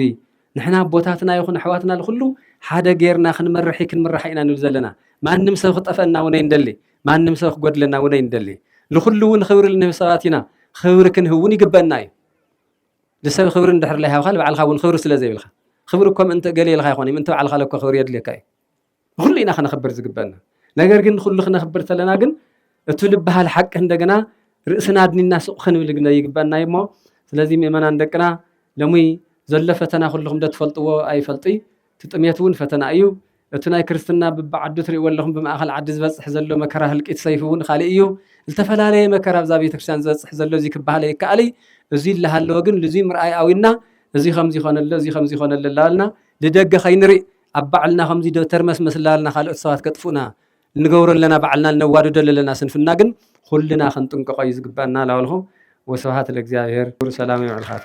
Speaker 1: ንሕና ኣቦታትና ይኹን ኣሕዋትና ንኹሉ ሓደ ጌርና ክንመርሒ ክንምራሕ ኢና ንብል ዘለና ማንም ሰብ ክጠፈና እውን ኣይንደሊ ማንም ሰብ ክጎድለና እውን ኣይንደሊ ንኹሉ እውን ክብሪ ልንህብ ሰባት ኢና ክብሪ ክንህብ እውን ይግበና እዩ ንሰብ ክብሪ እንድሕር ለይሃብካ ንባዕልካ እውን ክብሪ ስለ ዘይብልካ ክብሪ እኮ ምእንቲ ገሌ ኢልካ ይኮን ምእንቲ ባዕልካ ለኮ ክብሪ የድልየካ እዩ ንኹሉ ኢና ክነኽብር ዝግበእና ነገር ግን ንኹሉ ክነኽብር ተለና ግን እቱ ልበሃል ሓቂ እንደገና ርእስና ኣድኒና ስቕ ክንብል ግለ ይግበእና እዩ እሞ ስለዚ ምእመናን ደቅና ለሙይ ዘሎ ፈተና ኩልኹም ዶ ትፈልጥዎ ኣይፈልጥይ እቲ ጥሜት እውን ፈተና እዩ እቲ ናይ ክርስትና ብብዓዱ ትሪእዎ ኣለኹም ብማእኸል ዓዲ ዝበፅሕ ዘሎ መከራ ህልቂት ሰይፊ እውን ካሊእ እዩ ዝተፈላለየ መከራ ኣብዛ ቤተክርስትያን ዝበፅሕ ዘሎ እዚ ክበሃል ይከኣል እዚ ይለሃለወ ግን ልዙይ ምርኣይ ኣዊና እዚ ከምዚ ኮነ ኣሎ እዚ ከምዚ ኮነ ኣሎ እናበልና ልደገ ከይንሪእ ኣብ ባዕልና ከምዚ ዶ ተርመስመስ እላበልና ካልኦት ሰባት ከጥፍኡና እንገብሮ ኣለና ባዕልና እነዋድዶ ለለና ስንፍና ግን ኩልና ክንጥንቀቆ እዩ ዝግበኣና ላበልኩ ወስብሃት ለእግዚኣብሔር ኩሩ ሰላም ይብዕልካቱ